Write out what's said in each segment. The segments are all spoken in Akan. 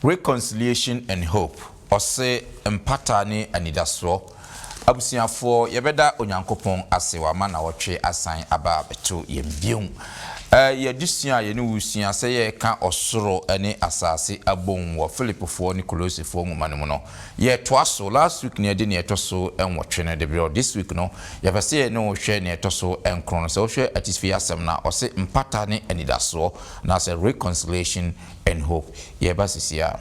Reconciliation and Hope, Ɔse, Mpata ne Anidasoɔ, Abusuafoɔ, yɛbɛda Onyankopɔn ase wama nawɔtwe asan aba abɛto yɛn bio. Ɛɛ yɛ adesua a yɛne wo resua sɛ yɛreka ɔsoro ne asase abom wɔ Filipifoɔ ne Kolosefoɔ nwoma no mu no, yɛretoa so. Last week no yɛde nea ɛtɔ so nwɔtwe no de berɛ wo. This week no, Yɛpɛ sɛ yɛne wo hwɛ nea ɛtɔ so nkron no. Sɛ wohwɛ atifi asɛm no a, ɔse Mpata ne Anidasoɔ, anaasɛ Reconciliation and Hope. Yɛreba seesei ara.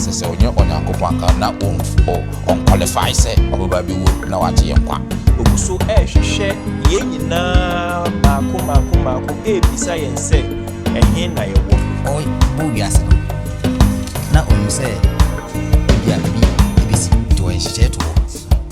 sɛ sɛ ɔnyɛ onyankopɔn anka na ɔnqualify sɛ ɔbɛba bi wu na wagye yɛ nkwa ɔgu so ɛrehwehwɛ yɛn nyinaa maako maako maako ɛrebisa yɛn sɛ ɛhe na yɛwɔ ɔbɔ wiase no na ɔnim sɛ ebia biribi ɛbɛsi nti ɔyɛ nhyehyɛɛ to hɔ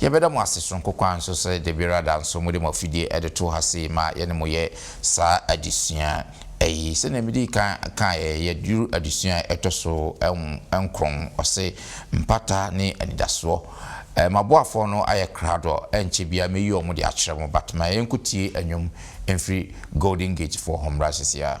Yɛbɛda mo ase soronko koraa nso sɛ da biara da nso mode mo afidie de to ha sei ma yɛne mo yɛ saa adesua yi. Sɛdeɛ medii kan kaeɛ, yɛaduru adesua a ɛtɔ so nkron, ɔse, Mpata ne Anidasoɔ. M'aboafoɔ no ayɛ krado, ɛnkyɛ biara mɛyi wɔn de akyerɛ mo, but ma yɛnkɔtie nnwom mfiri Golden Gate foɔ hɔ mmra seesei ara.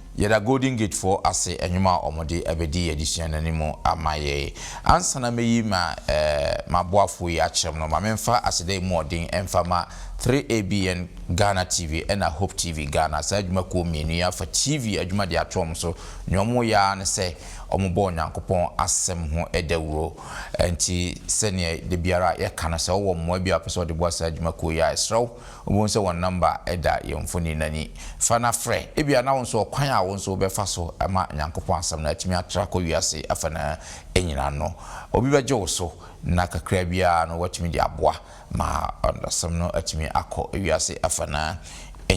Yɛda Golden Gate foɔ ase ɛnwom a wɔn de ɛbɛdi yɛ adesua no anim ama yɛn. Ansa na mɛyi ma ɛɛ m'aboafoɔ yi akyerɛ mo no, ma menfa aseda yi mu ɔden ɛnfa ma 3ABN Ghana TV ɛna Hope TV Ghana, saa adwuma kuo mmienu yi afa TV adwuma de ato wɔn so. Nea wɔn yɛ ara ne sɛ wɔn bɔ Onyankopɔn asɛm ho dawuro. Ɛnti sɛdeɛ dabiara yɛka no, sɛ wo wɔ mmoa bi a wopɛ sɛ wɔde boa saa adwuma kuo yi a, yɛsrɛ wo Wubehu sɛ wɔn nɔmba da yɛn mfonini no ani. Fa na frɛ. Ebia na wo nso ɔkwan a wo nso wobɛfa so ama Onyankopɔn Asɛm no atumi atra akɔ wiase afanaa nyinaa no, obi bɛgye wo so, na kakraa bi ara no woatumi de aboa ma Asɛm no atumi akɔ wiase afanaa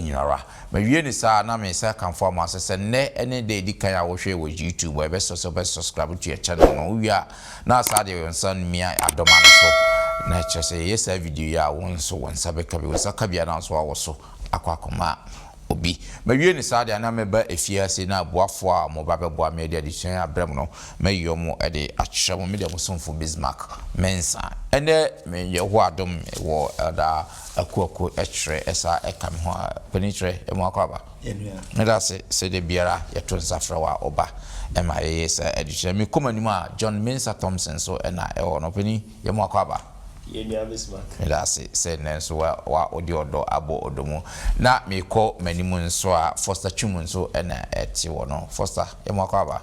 nyinara. Mawie no saa a, na meresan akamfo ama wo sɛ, sɛ nnɛ ne da a edi kan a wohwɛe wɔ YouTube a, ɛbɛsɔ sɛ wobɛsɔskraibe to yɛn channel no. Wuwie a, na asan ade wo nsa mia adɔma no so, na kyerɛ sɛ yɛyɛ saa video yi a wo nso wo nsa bɛka bi, wo nsa ka bi a na nso awo so akɔ akɔma obi. Mawie no saa deɛ a na mɛba efie ase na aboafoɔ a wɔba bɛboa me de adesua yi abrɛ mo no mɛyi wɔn de akyerɛ mo, me deɛ mo somfo Bismark Mensah. Ɛnnɛ me Yehowa adom me wɔ Elder Akuaku kyerɛ ɛsa ɛka me ho a panin kyerɛ ɛmu akɔ aba. yɛnua. Meda ase sɛ da biara yɛto nsa frɛ wo a woba. Ɛma yɛyɛ saa adesua. Me kɔm anim a, John Mensah Thompson nso na ɛwɔ hɔ. Na ɔpanin, yɛn mu akwaaba. Yɛnua Bismarck. Meda ase sɛ nnɛ nso wa, wa, wode ɔdɔ abɔ ɔdɔ mu. Na merekɔ m'anim nso a, Foster Twum nso na ɛte hɔ no. Foster, yɛn mu akwaaba.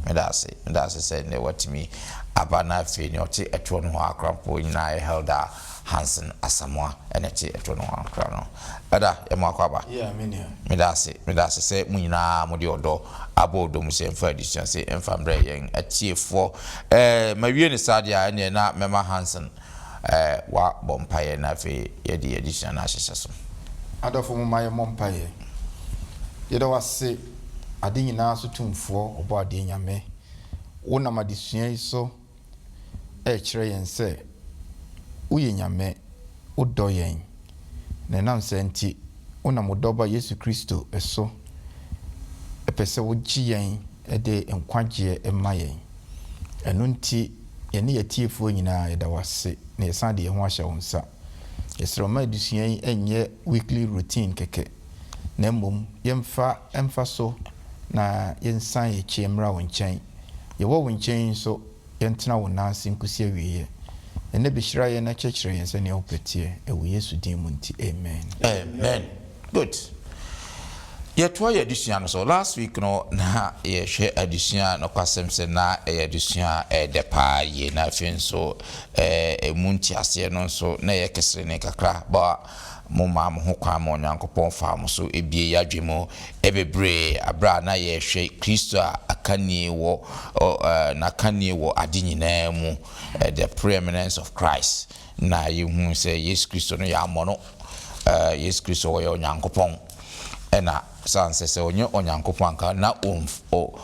Meda ase, meda ase sɛ nnɛ woatumi aba na afei nea ɔte ɛtoɔ nohoa akora mpo nyinaa yɛ Helder Hansen Asamoah na ɛte ɛtoɔ nohoa akora no. Elder, yɛma wo akwaaba. Yeah, me nua. Meda ase, meda ase sɛ mo nyinaa mode ɔdɔ abɔ ɔdɔ mu sɛ yɛmfa adesuase mfa mbrɛ yɛn atiefoɔ. Ɛɛ, mawie no saa deɛ a, ɛnneɛ na mɛma Hansen. W'abɔ mpaeɛ na afei yɛde yɛn adesua no ahyehyɛ so. Adɔfo momma yɛmmɔ mpaeɛ. Yɛda wo ase ade nyinaa so tumfoɔ ɔbɔ adeɛ Nyame. Wo nam adesua yi so ɛrekyerɛ yɛn sɛ wo yɛ Nyame, wo dɔ yɛn. Na ɛnam saa nti wo nam wo dɔba Yesu Kristo so pɛ sɛ wo gye yɛn de nkwagyeɛ ma yɛn. Ɛno nti, yɛne yɛatiefoɔ nyinaa, yɛda wo ase na yɛsan de yɛn ho ahyɛ wo nsa. Yɛsrɛ wo ma adesua yi nyɛ weekly routine kɛkɛ, na mmom yɛmfa mfa so na yɛnsan yɛn akyi mmra wo nkyɛn. Yɛwɔ wo nkyɛn yi nso, Yɛntena wo nan ase nkosi awieɛ. Ɛnnɛ bɛhyira yɛn na kyerɛkyerɛ yɛn sɛdeɛ wo pɛ teɛ, ɛwɔ Yesu din mu nti, amen. Amen good yɛtoa yɛn adesua no so last week no na yɛhwɛ adesua nokwasɛm sɛ na ɛyɛ adesua a ɛdɛ paa yie na afei nso ɛɛ emu nteaseɛ no nso na ɛyɛ keserene kakra but Momaa mo ho kwan ma Onyankopɔn faa mo so bue yɛn adwene mu bebree bere a na yɛrehwɛ Kristo a akanni wɔ N'akanni wɔ ade nyinaa mu, The Preeminence of Christ, na yɛhuu sɛ Yesu Kristo no yɛammɔ no. Yesu Kristo ɔyɛ Onyankopɔn, ɛna sɛ ansɛ sɛ ɔnyɛ Onyankopɔn anka na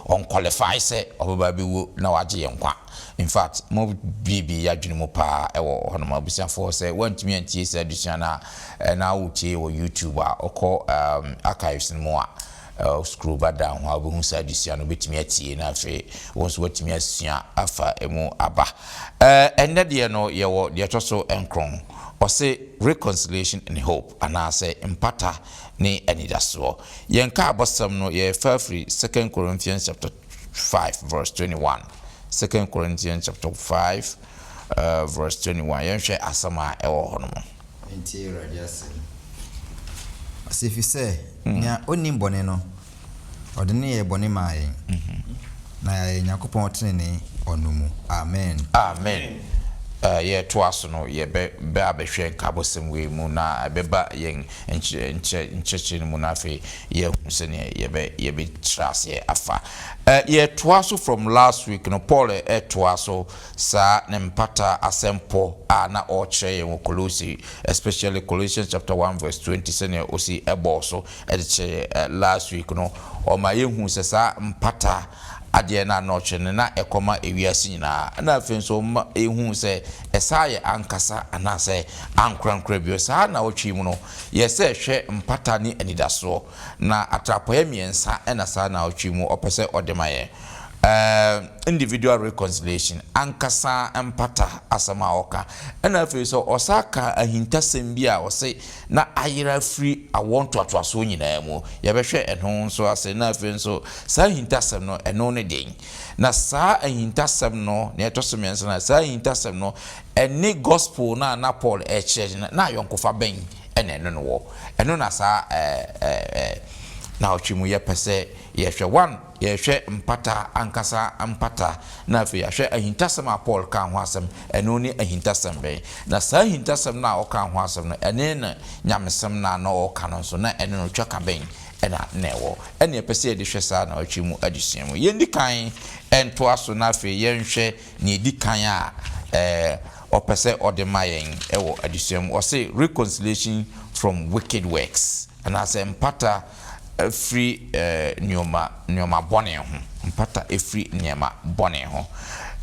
ɔnkwɔlifai sɛ ɔbɛba abɛwuo na wagye yɛn nkwa. In fact, mo buebue y'adwene mu paa ɛwɔ hɔnom. Abusuafoɔ, sɛ woantumi antie saa adesua no a na wotie wɔ YouTube a, wokɔ archives no mu a, scroll ba down hɔ a wobɛhu saa adesua no, wobɛtumi atie na afei wo nso woatumi asua afa ɛmu aba. Ɛnnɛ deɛ no yɛwɔ deɛ ɛtɔ so nkron, ɔse Reconciliation and Hope anaasɛ Mpata ne Anidasoɔ. Yɛn nkaabɔsɛm no yɛfa firi Second Corinthians chapter five verse twenty one, Second Corinthians chapter five verse twenty one, yɛnhwɛ asɛm a ɛwɔ hɔ no mu. Yɛntie Awurade asɛm. Ɔse, efisɛ nea onnim bɔne no, ɔde no yɛɛ bɔne maa yɛn, na yɛayɛ Nyankopɔn trenee wɔ no mu. Amen. Amen. Yɛretoa so no, yɛbɛ abɛhwɛ nkabɔsɛm wei mu, na ɛbɛba yɛn nkyerɛ nkyerɛkyerɛ no mu, na afei Yɛahu sɛdeɛ yɛbɛ yɛbɛ tra aseɛ afa. Ɛ yɛtoa so from last week no Paul ɛ toa so saa ne mpata asɛm pɔ a na ɔɔkyerɛ yɛn wɔ Kolose especially Colossians chapter one verse twenty sɛdeɛ ɔsi ɛ bɔɔ so ɛ de kyerɛ yɛn ɛ last week no ɔma yɛhuu sɛ saa mpata adeɛ no a na ɔkyerɛ no na ɛkɔma ewiase nyinaa ɛna afei nso ɔma yɛhuu sɛ ɛsaa yɛ ankasa anaasɛ ankorankora bio saa nawɔtwe yi mu no Yɛ sɛ hwɛ mpata ne anidasoɔ, na atrapoeɛ mmiɛnsa na saa naawɔtwe mu ɔpɛ sɛ ɔde ma yɛn. Ɛɛ individual reconciliation, ankasa mpata asɛm a ɔka. Ɛna afei nso ɔsaa ka ahintasɛm bi a ɔse na ayera afiri awoɔ ntoatoasoɔ nyinaa mu. Yɛbɛhwɛ ɛno nso ase. Ɛna afei nso saa ahintasɛm no ɛno ne den? Na saa ahintasɛm no, nea ɛtɔ so mmiɛnsa no, saa ahintasɛm no Ɛne Gospel no a na Paul rekyerɛ no, na ayɔnkofa bɛn na ɛne no wɔ? Ɛno na saa nnawɔtwe mu yɛpɛ sɛ yɛhwɛ. One, yɛhwɛ Mpata ankasa mpata, na afei yɛahwɛ ahintasɛm a Paul kaa ho asɛm, ɛno ne ahintasɛm bɛn? Na saa ahintasɛm no a ɔkaa ho asɛm no, ɛne ne nyamesɛm no a na ɔreka no nso, na ɛne no twaka bɛn na na ɛwɔ? Ɛne yɛpɛ sɛ yɛde hwɛ saa nnawɔtwe mu adesua mu. Yɛndi kan ntoa so na afei yɛnhwɛ nea edi kan a ɔpɛ sɛ ɔde ma yɛn wɔ adesua mu. Ɔse, Reconciliation from wicked works, anaasɛ mpata firi nnoɔma nnoɔma bɔne ho. Mpata firi nnoɔma bɔne ho.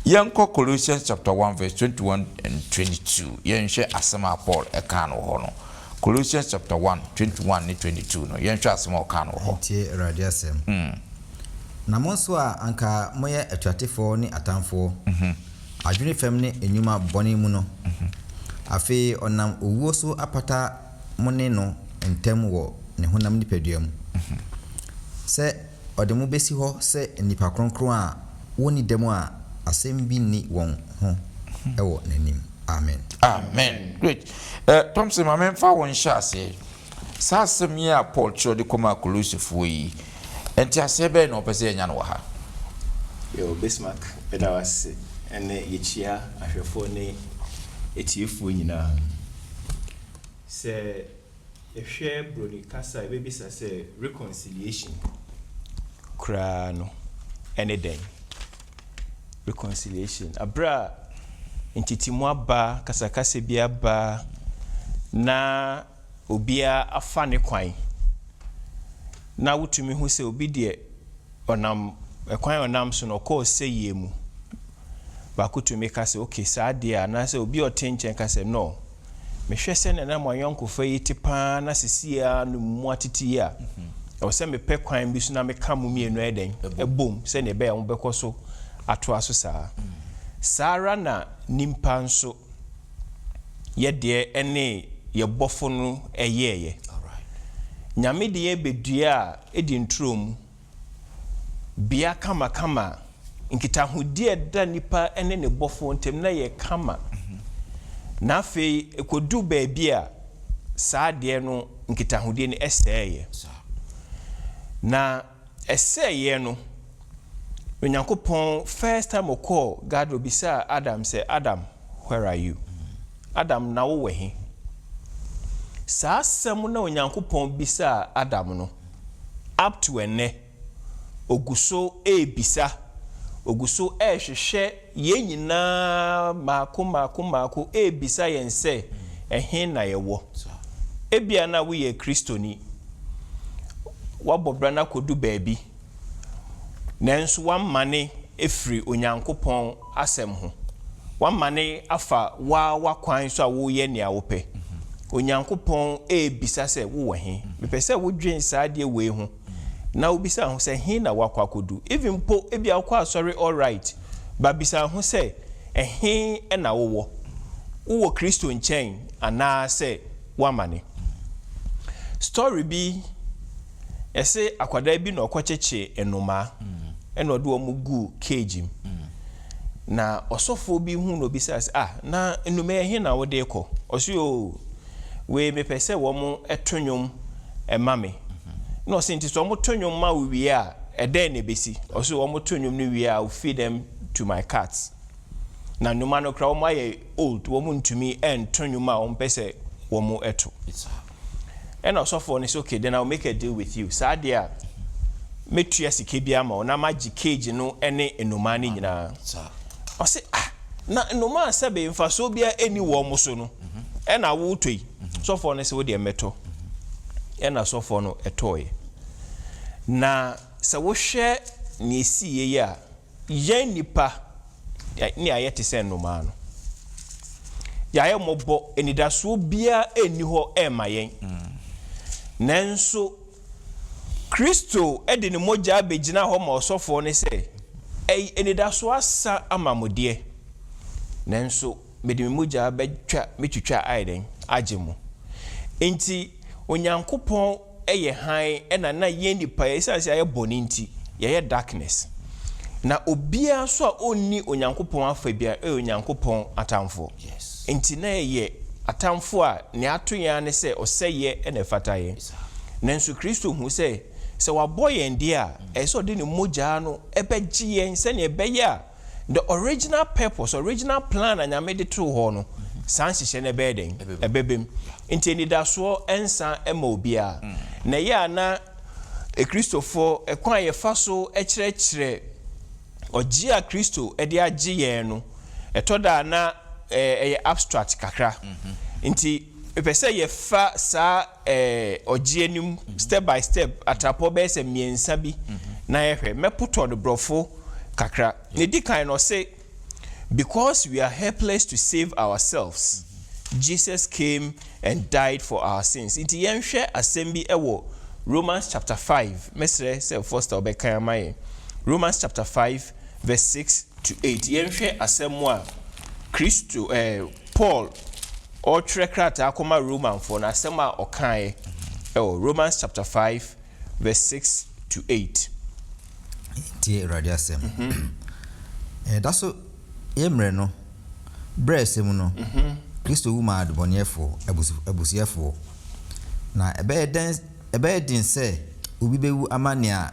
Yɛnkɔ Colossians chapter one verse twenty one and twenty two. Yɛnhwɛ asɛm a Paul kaa no wɔ hɔ no. Colossians chapter one twenty one ne twenty two no, yɛnhwɛ asɛm a ɔkaa no wɔ hɔ. Tie Awurade asɛm. Na mo nso a anka moyɛ atuatefoɔ ne atamfoɔ, adwene fam ne nnwuma bɔne mu no, afei ɔnam owuo so apata mo ne no ntam wɔ ne honam nipadua mu, sɛ ɔde mo bɛsi hɔ sɛ nnipa kronkron a wɔnni dɛm a asɛm bi nni wɔn ho wɔ n'anim. Amen. Amen. Great. Eh, Thompson, ma memfa wo nhyɛaseɛ. Saa asɛm yi a Paul twerɛ de kɔmaa Kolossefoɔ yi, Nteaseɛ bɛn na wɔpɛ sɛ yɛnya no wɔ ha? Yɛwɔ Bismarck da wo ase ɛnɛ yɛkyia ahwɛfoɔ ne atiefoɔ nyinaa. Sɛ yɛhwɛ broni kasa a yɛbɛbisa sɛ reconciliation koraa no ɛne dɛn? Reconciliation aberɛ a ntetemu aba, kasakasa bi aba na obiara afa ne kwan, na wotumi hu sɛ obi deɛ ɔnam kwan a ɔnam so no ɔkɔ ɔsɛeɛ mu. Baako tumi ka sɛ, ok, saa deɛ a, anaasɛ obi a ɔte nkyɛn ka sɛ, no, mehwɛ sɛdeɛ na mo ayɔnkofa yi te pa ara na seesei ara no moatete yie a, ɛwɔ sɛ mepɛ kwan bi so na meka mo mmienu ayɛ dɛn? Abom, sɛdeɛ ɛbɛyɛ a mobɛkɔ so atoa so saa ara. Saa ara na nnipa nso. yɛ deɛ ɛne yɛ bɔfo no yɛeɛ. Nyame de yɛ bɛdua a ɛdi nturo mu, bea kama kama a nkitahodie a ɛda nipa ne ne bɔfoɔ ntam no yɛ kama. Na afei ɛkɔduru baabi a saa adeɛ no nkitahodie no sɛeɛ. Na. ɛsɛeɛ no, Onyankopɔn first time ɔkɔɔ garden ɔbisaa Adam sɛ, Adam, where are you? Adam, na wo wɔ he? Saa asɛm no a Onyankopɔn bisaa Adam no, up to ɛnnɛ, ɔgu so ɛrebisa, ɔgu so ɛrehwehwɛ, Yɛn nyinaa mmaako mmaako mmaako rebisa yɛn sɛ, 'Ɛhe na yɛwɔ? Ebia na woyɛ Kristoni. Woabɔ bra no akɔdu baabi, nanso woamane afiri Onyankopɔn Asɛm ho. Woamane afa wo ara w'akwan so a woreyɛ nea wopɛ. Onyankopɔn rebisa sɛ, 'Wowɔ he? Mepɛ sɛ wodwen saa adeɛ wei ho. na wobisaa ho sɛ he na woakɔ akɔdu even mpo ebia wokɔ asɔre alright but bisaa ho sɛ ɛhe na wowɔ wowɔ Kristo nkyɛn anaa sɛ woamane story bi ɛse akwadaa bi na ɔkɔkyekye nnomaa ɛna ɔde wɔn guu cage mu na ɔsɔfoɔ bi hu na obisaa sɛ ah na nnomaa yi ɛhe na wode rekɔ ɔse oo Wei mepɛ sɛ wɔn to nwom ma me. Ɛna ɔse, nti sɛ wɔn to nwom ma wo wie a, ɛdɛn na ɛbɛsi? Ɔse, wɔn to nwom no wie a, I will feed them to my cats. Na nnoma no koraa wɔn ayɛ old, wɔn ntumi nto nwom a wɔn pɛ sɛ wɔn to. Ɛna ɔsɔfoɔ no se, okay, then I will make a deal with you. Saa deɛ a, mɛtua sika bi ama wo na magye cage no ne nnomaa no nyinaa. Ɔse ah na nnomaa sɛbe mfasoɔ biara ɛnni wɔn so no ɛna woretɔ yi? Sɔfoɔ no se wodeɛ mɛtɔ. Ɛna sɔfoɔ no tɔɔeɛ. Na sɛ wohwɛ nea ɛsiiɛ yi a, yɛn nnipa ne ayɛ te sɛ nnomaa no. Yɛayɛ mmɔbɔ, anidasoɔ biara nni hɔ ɛmma yɛn. Nanso. Kristo de ne mogya bɛgyina hɔ ma ɔsɔfoɔ no sɛ, Ɛy, anidasoɔ asa ama mo deɛ, nanso mede me mogya bɛtwa mɛtwitwa ayɛ dɛn? agye mo. Enti Onyankopɔn yɛ hann na na yɛn nnipa yɛ, ɛsiane sɛ yɛayɛ bɔne nti, yɛyɛ darkness. Na obiara nso a ɔnni Onyankopɔn afa biara yɛ Onyankopɔn atamfoɔ. Enti na yɛyɛ atamfoɔ a nea ato yɛn ara ne sɛ ɔsɛeɛ na ɛfata yɛn. Nanso Kristo hu sɛ, sɛ wabɔ yɛn deɛ a, ɛsɛ sɛ ɔde ne mogya no bɛgye yɛn sɛdeɛ ɛbɛyɛ a the original purpose, original plan a Nyame de too hɔ no, saa nhyehyɛ no ɛbɛyɛ dɛn? Ɛbɛba mu. Nti anidasoɔ nsa mma obiara. Na ɛyɛ a na Kristofoɔ, kwan a yɛfa so kyerɛkyerɛ ɔgyeɛ a Kristo de agye yɛn no, ɛtɔ da a na ɛyɛ abstract kakra. Nti mepɛ sɛ yɛfa saa Ɛɛ, ɔgye anim, step by step, atrapɔ bɛyɛ sɛ mmiɛnsa bi na yɛhwɛ. Mɛpotɔ no borɔfo kakra. Nea ɛdi kan no, ɔse, Because we are helpless to save ourselves, Jesus came and died for our sins. Nti yɛnhwɛ asɛm bi wɔ Romans chapter five. Mɛsrɛ sɛ Foster wobɛkan ama yɛn. Romans chapter five verse six to eight. Yɛnhwɛ asɛm a Kristo, ɛɛ, Paul. Ɔretwerɛ krataa akɔma Romanfoɔ no, asɛm a ɔkaeɛ wɔ Romans chapter five verse six to eight. Yɛntie Awurade asɛm. Yɛda so yɛ mmerɛ no berɛ a ɛsɛ mu no, Kristo wu maa adebɔneyɛfoɔ abusuɛfoɔ. Na ɛbɛyɛ den sɛ obi bɛwu ama nea.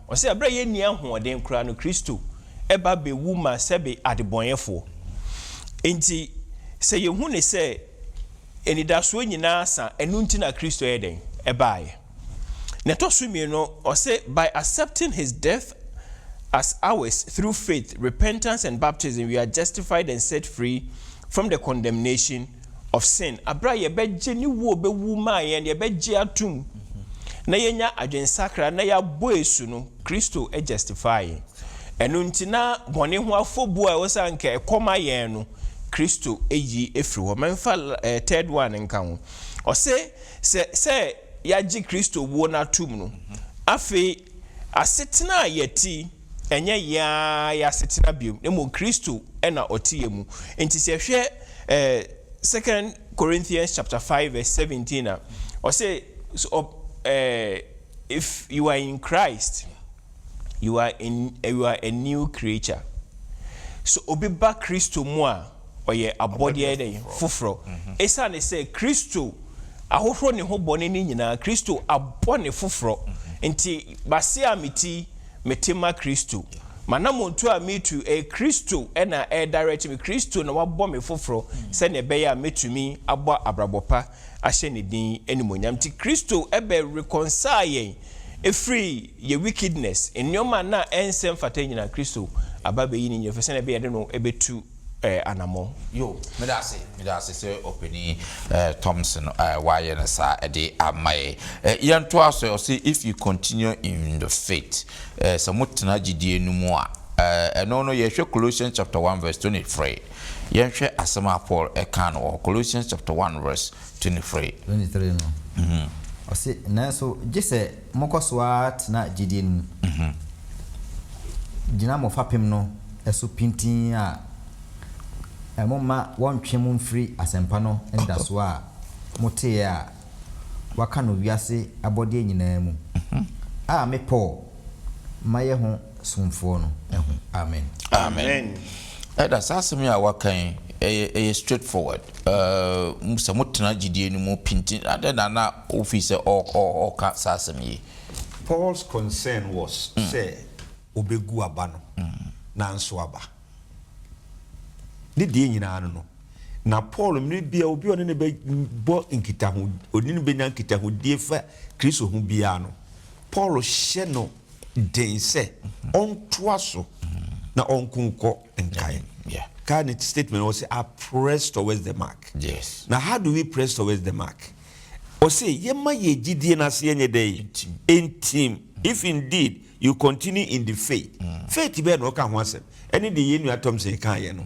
Ɔse berɛ a yɛnni ahoɔden koraa no Kristo ba bɛwu ma sɛbe adebɔnɛfoɔ. Enti sɛ yɛhu no sɛ anidasoɔ nyinaa asa ɛno nti na Kristo yɛ dɛn? Ɛbaeɛ. Na ɛtɔ so mmienu ɔse by accepting his death as ours through faith, repentance and baptism we are justified and set free from the condemnation of sin, bere a yɛbɛgye ne wu a obewu maa yɛn, yɛbɛgye atom na yɛanya adwensakra na yɛabɔ asu no, Kristo justify yɛn. Ɛno nti na bɔne ho afobu a ɛwɔ sɛ anka ɛkɔ ma yɛn no, Kristo yi firi hɔ. Mɛmfa third one nka ho. Ɔse sɛ sɛ yɛagye Kristo wuo no atom no, afei asetena a yɛte, Ɛnyɛ yɛn ara yɛn asetena bio, na mmom Kristo na ɔte yɛn mu. Enti sɛ yɛhwɛ Second Corinthians chapter five verse seventeen a, ɔse if you are in Christ, you are in you are a new creature. So obi ba Kristo mu a, ɔyɛ abɔdeɛ dɛn? Foforɔ. Esiane sɛ Kristo ahohoro ne ho bɔne no nyinaa, Kristo abɔ no foforɔ nti, base a me ti Mete ma Kristo. M'anammɔntu a meretu, ɛyɛ Kristo na ɛredirect me. Kristo na wabɔ me foforɔ sɛdeɛ ɛbɛyɛ a mɛtumi abɔ abrabɔ pa ahyɛ Ne din animuonyam. Nti Kristo bɛ reconcile yɛn firi yɛn wickedness, nneɛma a na ɛnsɛ mfata nyinaa, Kristo aba abɛyi ne nyinaa firi sɛdeɛ ɛbɛyɛ a yɛde no bɛtu. anammɔn. Yo, meda ase, meda ase sɛ Ɔpanin Thompson a wayɛ no saa de ama yɛn. Yɛntoa so, ɔse, If you continue in the faith, sɛ motena gyidie no mu a, ɛno no yɛhwɛ Colossians chapter one verse twenty three, yɛnhwɛ asɛm a Paul kaa no wɔ hɔ, Colossians chapter one verse twenty three. Twenty three no, ɔse, Nanso gye sɛ. Mokɔ so ara tena gyedie no mu. Gyina mo fapem no so pintinn a momma wɔntwe mo mfiri asɛmpa no anidasoɔ a moteeɛ a wɔaka no wiase abɔdeɛ nyinaa mu a me Paul mayɛ ho somfoɔ no ho. Amen. Amen. Ɛda saa asɛm yi a waka yi, ɛyɛ ɛyɛ straight forward. Sɛ motena gyidie no mu pintinn, adɛn na na Ofii sɛ ɔɔka saa asɛm yi. Paul's concern was sɛ obegu aba no nanso aba. Ne deɛ nyinaa no no, na Paul mmerɛ biara obi a ɔne no bɛbɔ nkitaho, ɔne no bɛnya nkitahodie fa Kristo ho biara no, Paul hyɛ no den sɛ ɔntoa so na ɔnko nkɔ nkan. Kae ne statement no, ɔse, I press towards the mark. Na how do we press towards the mark? Ɔse yɛma yɛn gyidie no ase yɛnyɛ dɛn? Ntim. If indeed you continue in the faith, faith bɛn na ɔka ho asɛm? Ɛne deɛ yɛn nua Thompson kaeɛ no.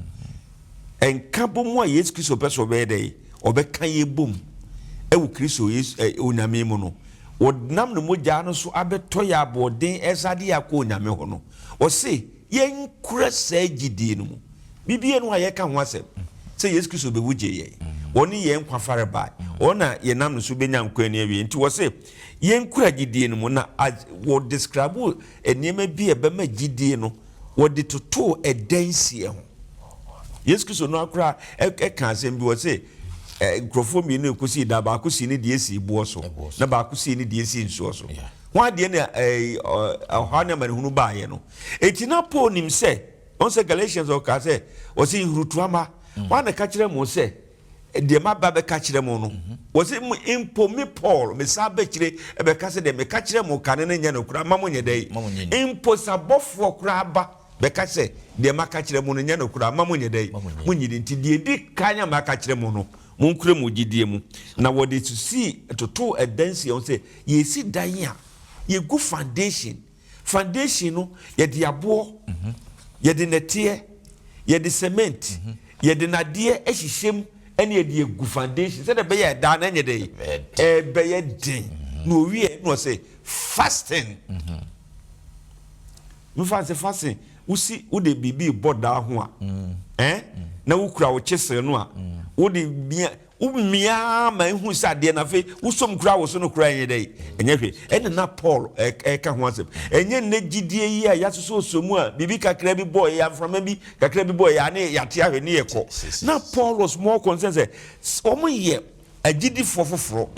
Nka bɔ mu a Yesu Kristo pɛ sɛ ɔbɛyɛ dɛn? Ɔbɛka yɛn bom wɔ Kristo Yesu, eh, Onyame mu no. Ɔnam ne mogyaa no so abɛtɔ yɛn aboɔden ɛsɛ adeɛ akɔ Onyame hɔ no. Ɔse. Yɛnkura saa gyidie no mu. Biribiara nni hɔ a yɛka ho asɛm sɛ Yesu Kristo bɛwu gyee yɛn. Ɔne yɛn nkwa farebae. Ɔno na yɛnam ne so bɛnya nkwa nni awieɛ. Nti wɔse yɛnkura gyidie no mu. Na wɔ describe nneɛma bi a ɛbɛma gyidie no, wɔde totoo adansie ho. Yesu Kristo no ara koraa kaa asɛm bi, ɔse nkurɔfoɔ mmienu ɛkɔsii da, baako sii ne deɛ sii boɔ so, na baako sii ne deɛ sii nsuo so. Ho adeɛ na ɔhaw ne amanehunu baeɛ no. Enti na Paul nim sɛ, wɔn sɛ Galatians ɔkaa sɛ, wɔsi nhurutoa mma, mm. wɔn na ɛka kyerɛ mo sɛ, deɛ maba bɛka kyerɛ mo no, mhm. wɔsi mpo me Paul, me saa bɛkyire ɛbɛka sɛ deɛ meka kyerɛ mo kane no nyɛ no koraa, ma mo nyɛ dɛ yi. Mpo sabɔfoɔ koraa ba bɛka sɛ, deɛ maka kyerɛ mo no nyɛ no koraa, ma mo nyɛ dɛ yi. Mo nyi di nti, deɛ di kan a maka kyerɛ mo no, mo nkura mo gyidie mu. Na wɔde susii toto ɛdansi wɔn sɛ, yɛsi dan a, yɛgu foundation. Foundation no yɛde aboɔ, yɛde nɛteɛ, yɛde cement, yɛde nadeɛ ahyehyɛ mu ɛna yɛde agu foundation sɛdeɛ ɛbɛyɛ a ɛdaa no ɛnyɛ dɛ ɛbɛyɛ den na ɔwieɛ na ɔsɛ fasting mefa sɛ fasting wosi wode biribi bɔ daa ho a ɛn na wokura wo kyesere no a wode bia Womia ara ma ehu sɛ adeɛ no afei wosɔm kura wo so no koraa nyɛ dɛn? Ɛnyɛ hwee. Ɛnna na Paul reka ho asɛm. Ɛnyɛ nnɛ gyidie yi a yɛasosɔsosɔ mu a biribi kakra bi bɔeɛ yi a, mframa bi kakra bi bɔeɛ yi a, ne yɛate ahwɛ ne yɛkɔ. Na Paul was more concerned sɛ wɔyɛ agyidifoɔ foforɔ,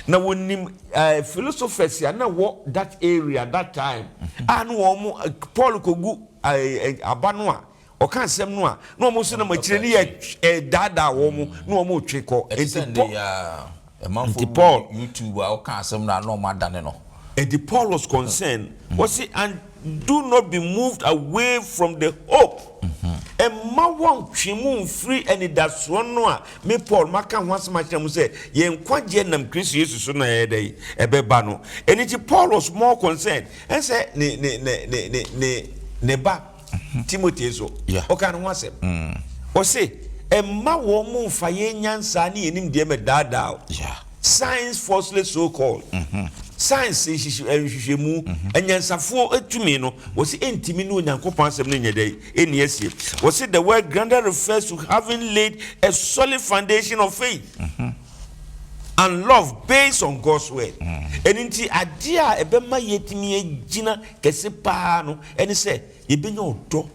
na wɔnim philosophers a na ɛwɔ that area that time a na wɔn Paul kɔgu aba no a Ɔka nsɛm no a, na wɔn nso nam akyire no redaadaa wɔn na wɔretwe kɔ. Ɛte sɛ nnɛ yi ara, amanfoɔ bi wɔ YouTube a ɔka asɛm no a na wɔadane no. Enti Paul was concerned, ɔse, And do not be moved away from the hope, mma wɔnntwe mo mmfiri anidasoɔ no a me Paul maka ho asɛm akyerɛ mo sɛ yɛn nkwagyeɛ nam Kristo Yesu so na ɛyɛ dɛn? Ɛbɛba no. Ɛno nti Paul was more concerned, ɛnsɛ ne ba. Timoteo nso, ɔkaa ne ho asɛm. Ɔse, Mma wɔn mmfa yɛn nyansa ne yɛn nimdeɛ mmɛdaadaa wo. Science falsely so called, Science nhwehwɛmu, anyansafoɔ tumi no, wɔse ɛntumi ne Onyankopɔn asɛm no nyɛ dɛn? Ɛnni asie. Wɔse the word grounded refers to having laid a solid foundation of faith and love based on God's word. Ɛno nti adeɛ a ɛbɛma yɛatumi agyina kɛse paa no, ɛne sɛ yɛbɛnya ɔdɔ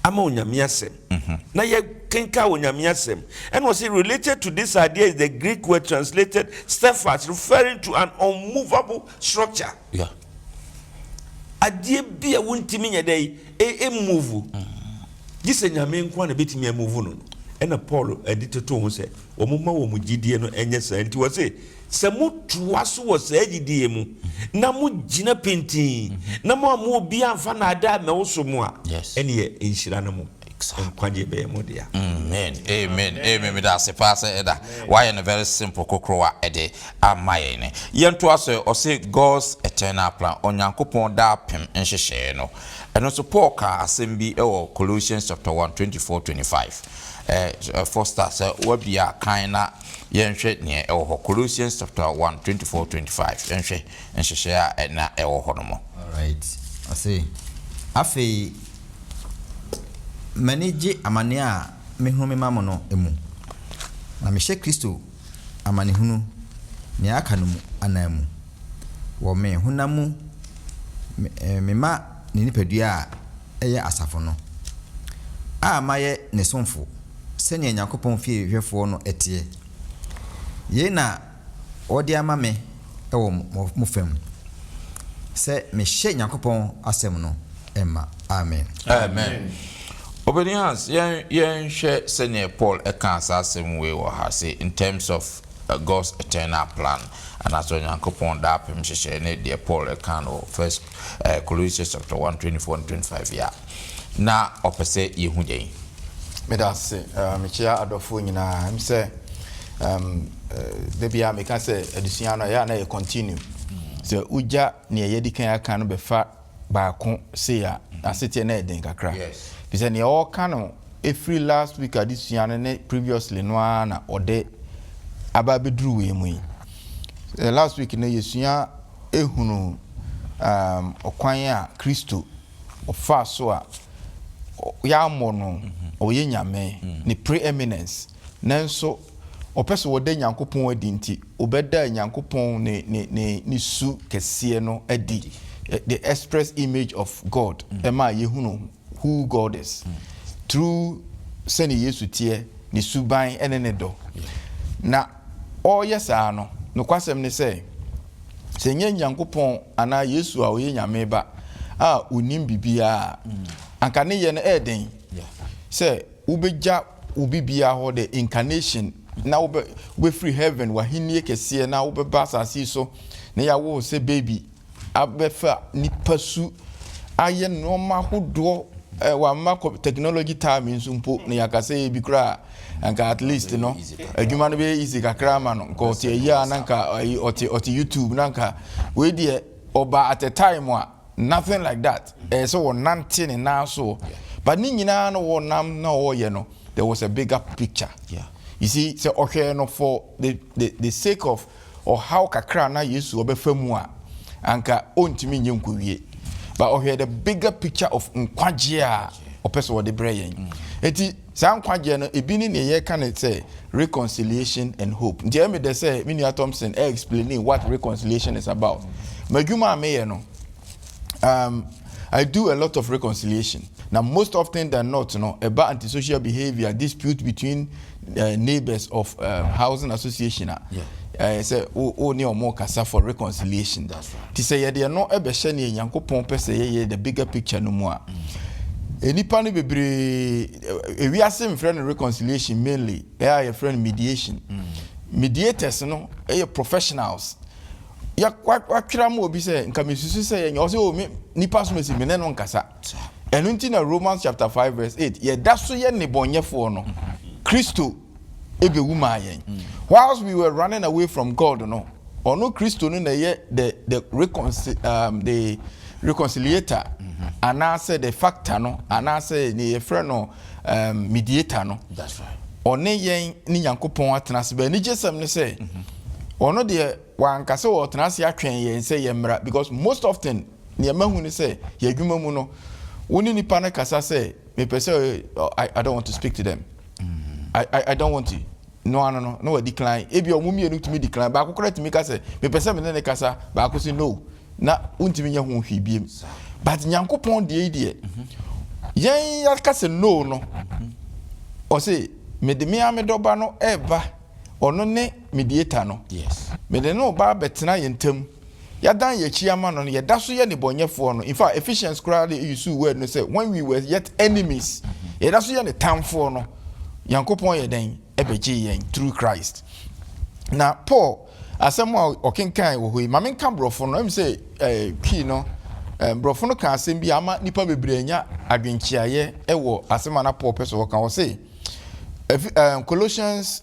ama Onyame asɛm na yɛkenka Onyame asɛm ɛna ɔse related to this idea is the Greek word translated steadfast referring to an unmovable structure yeah. adeɛ bi a wontimi nyɛ dɛ ɛmuvu e, mm. gye sɛ Nyame nko a na bɛtumi amuvu no no ɛna Paul ɛde toto ho sɛ wɔn ma wɔn gyidie no ɛnyɛ saa nti wɔ se Sɛ motoa so wɔ saa gyidi yi mu na mogyina pintinn na moamma obiara amfa nnaadaa ammɛwoso mo a, ɛnneɛ nhyira ne mo nkwagyeɛ bɛyɛ mo dea. Amen amen amen meda ase paa sɛ ɛda wayɛ no very simple kokorowa ɛde ama yɛn ne yɛn to aso ɛ ɔse God's eternal plan Onyankopɔn daapem nhyehyɛɛ no ɛno nso Paul kaa asɛm bi wɔ Colossians chapter one twenty four twenty five ɛ Foster sɛ wabia kan na Yɛnhwɛ nea ɛwɔ hɔ, Colossians chapter one twenty four, twenty five, Yɛnhwɛ nhyehyɛe a na ɛwɔ hɔ no mu. Alright, ɔse, Afei m'ani gye amanneɛ a mehunu mema mo no mu, na mehyɛ Kristo amanehunu nea aka no mu ananmu, wɔ me honam mu, mema ne nipadua a yɛ asafo no, a mayɛ ne somfo sɛnea Onyankopɔn fie hwɛfoɔ no teɛ. Yei na wɔde ama me wɔ mo fam, sɛ mehyɛ Onyankopɔn asɛm no ma. Amen. Amen. Obedi Hans, yɛn yɛnhwɛ sɛdeɛ Paul kaa saa asɛm wei wɔ ha, se in terms of God's eternal plan, anaasɛ Onyankopɔn daapem nhyehyɛe ne deɛ Paul kaa no wɔ First Ɛɛ Colossians chapter one twenty four and twenty five yi a, na ɔpɛ sɛ yɛhu dɛn? Meda ase. Uh, mekyia adɔfoɔ nyinaa. Ɛm sɛ um, uh, da biara meka sɛ adesua no ɛyɛ a na yɛ continue. Sɛ wogya neɛ yɛdi kan aka no bɛfa baako sei a, aseteɛ na ɛden kakra. Fi sɛ neɛ ɔka no ɛfiri last week adesua no ne previously no ara na ɔde aba bɛduru wei mu yi. Last week no yɛsua hunu ɔkwan a Kristo faa so a wɔammɔ no ɔyɛ Nyame, ne pre-eminence, nanso wɔpɛ sɛ wɔda Nyankopɔn adi nti, wɔbɛdaa Nyankopɔn ne su kɛseɛ no adi, the express image of God, ɛmaa yɛhunu who God is through sɛnea Yesu teɛ, ne suban ne ne dɔ. Na ɔreyɛ saa no, nokwasɛm ne sɛ, sɛ ɛnyɛ Nyankopɔn anaa Yesu a ɔyɛ Nyame Ba a onim biribiara a, anka ne yɛ no ɛyɛ dɛn sɛ wobegya wo biribiara hɔ, the incarnation, na wobɛfiri heaven, w'ahenni kɛseɛ, na wobɛba asase yi so na yɛawo wo sɛ baby. abɛfa nipasu ayɛ nnoɔma ahodoɔ eh, wama technology time nso mpo na yɛakasa yɛ bi koraa anka at least no adwuma no bɛyɛ easy kakra ama no nka ɔte ayi a na nka ɔte ɔte youtube na nka wei deɛ ɔba at a time a nothing like that ɛyɛ sɛ wɔnante ne nan so but ne nyinaa no wɔnam na ɔreyɛ no there was a bigger picture yeah. you see sɛ ɔhwɛ no for the, the, the sake of Ɔhaw kakra a na Yesu ɔbɛfa mu a anka ɔntumi nyɛ nkɔwie but ɔhwɛɛ the bigger picture of nkwagyeɛ a ɔpɛ sɛ ɔde brɛ yɛn. Nti saa nkwagyeɛ no ɛbi ne neɛ yɛka no sɛ reconciliation and hope. Nti ɛyɛ me dɛ sɛ me nua Thompson ɛ explaini what reconciliation is about. M'adwuma a meyɛ no, um, I do a lot of reconciliation. Now, most often than not, you know, about antisocial behavior, dispute between uh, neighbors of uh, housing association. Uh, yeah. Uh, say, oh, oh, near more kasa for reconciliation. That's right. To say, yeah, no, ebe share ni yanko pon pese, yeah, yeah, the bigger picture no more. Mm. Eh, nipa no bebree eh, ewiase mfrɛ no reconciliation mainly ɛyɛ a yɛfrɛ no mediation mm. mediators no ɛyɛ professionals yɛ watwerɛ ama obi sɛ nka mesusu sɛ yɛnyɛ ɔsɛ o oh, me nipa so mesi me ne no nkasa ɛno nti na Romans chapter five verse eight yɛda so yɛ nnebɔnyɛfoɔ no Kristo ebewu maa yɛn mm. whilst we were running away from God no ɔno Kristo no na ɛyɛ the the reconcil um, the reconciliator mm-hmm. anaasɛ the factor no anaasɛ ne yɛfrɛ no. um, mediator no ɔne yɛn ne nyankopɔn atena ase bɛ anigye sɛm ne sɛ mm-hmm. ɔno deɛ wanka sɛ ɔtena ase atwɛn yɛn sɛ yɛmmra because most often nea mahu ne sɛ yɛ adwuma mu no wo ne nipa no kasa sɛ mepɛ sɛ I, I don't want to speak to them mm-hmm. I, I, I don't want to no ano no, na wɔadecline. Ebia wɔn mmienu tumi decline. Baako koraa tumi ka sɛ, Mepɛ sɛ me ne no kasa. Baako se, No. Na wontumi nyɛ ho hwee bio. But Nyankopɔn deɛ yi deɛ, yɛn yɛaka sɛ no no, ɔse, Mede me ara me dɔba no reba, ɔno ne mediator no. Mede no reba abɛtena yɛn ntam. Yɛadan yɛn akyi ama no no, yɛda so yɛ nnebɔneyɛfoɔ no. In fact, Ephesians koraa de usuu word no sɛ when we were yet enemies. Yɛda so yɛ ne tamfoɔ no. Nyankopɔn yɛ dɛn? Ɛbɛgyee yɛn through Christ. Na Paul asɛm a ɔkenkan wɔ hɔ yi, ma menka borɔfo no, ɛm sɛ eh, key no, eh, borɔfo no ka asɛm bi a ama nnipa bebree anya adwenkyeaeɛ wɔ asɛm a na Paul pɛ sɛ ɔka. Ɔse, Efi- eh, Colossians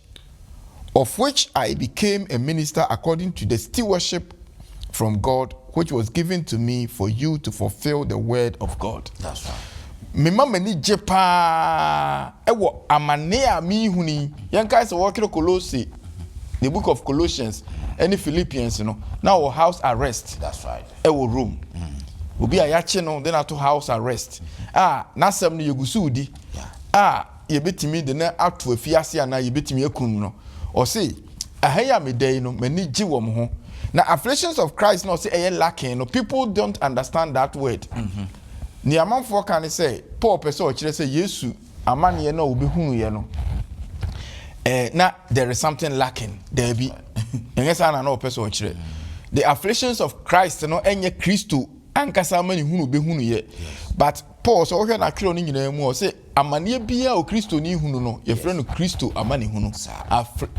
Of which I became a minister according to the stewardship from God which was given to me for you to fulfil the word of God. Mema m'ani gye paa wɔ amane a merehunu yi. Yɛnkae sɛ wɔretwerɛ Kolose, the book of Colossians ne Philippians no, na ɔwɔ house arrest wɔ Rome. Mm. Obi a yɛakye no de no ato house arrest a n'asɛm no yɛgu so redi a yɛbɛtumi de no ato afiase anaa yɛbɛtumi akum no. Ɔse, Ɛha yi a meda yi no, m'ani gye wɔn ho. Na Afflictions of Christ no a ɔse ɛyɛ lacking no, people don't understand that word. Nea amanfoɔ ka ne sɛ, Paul pɛ sɛ ɔkyerɛ sɛ Yesu amaneɛ no a ɔbɛhunuiɛ no, eh, na there is something lacking. Daabi. Ɛnyɛ saa na na ɔpɛ sɛ ɔkyerɛ. The Afflictions of Christ no ɛnyɛ Kristo ankasa amanehunu obehunu yɛ but Paul sɛ wohwɛ n'atwerɛ no nyinaa mu ɔsɛ amaneɛ biara o kristoni hunu no yɛfrɛ no kristo amanehunu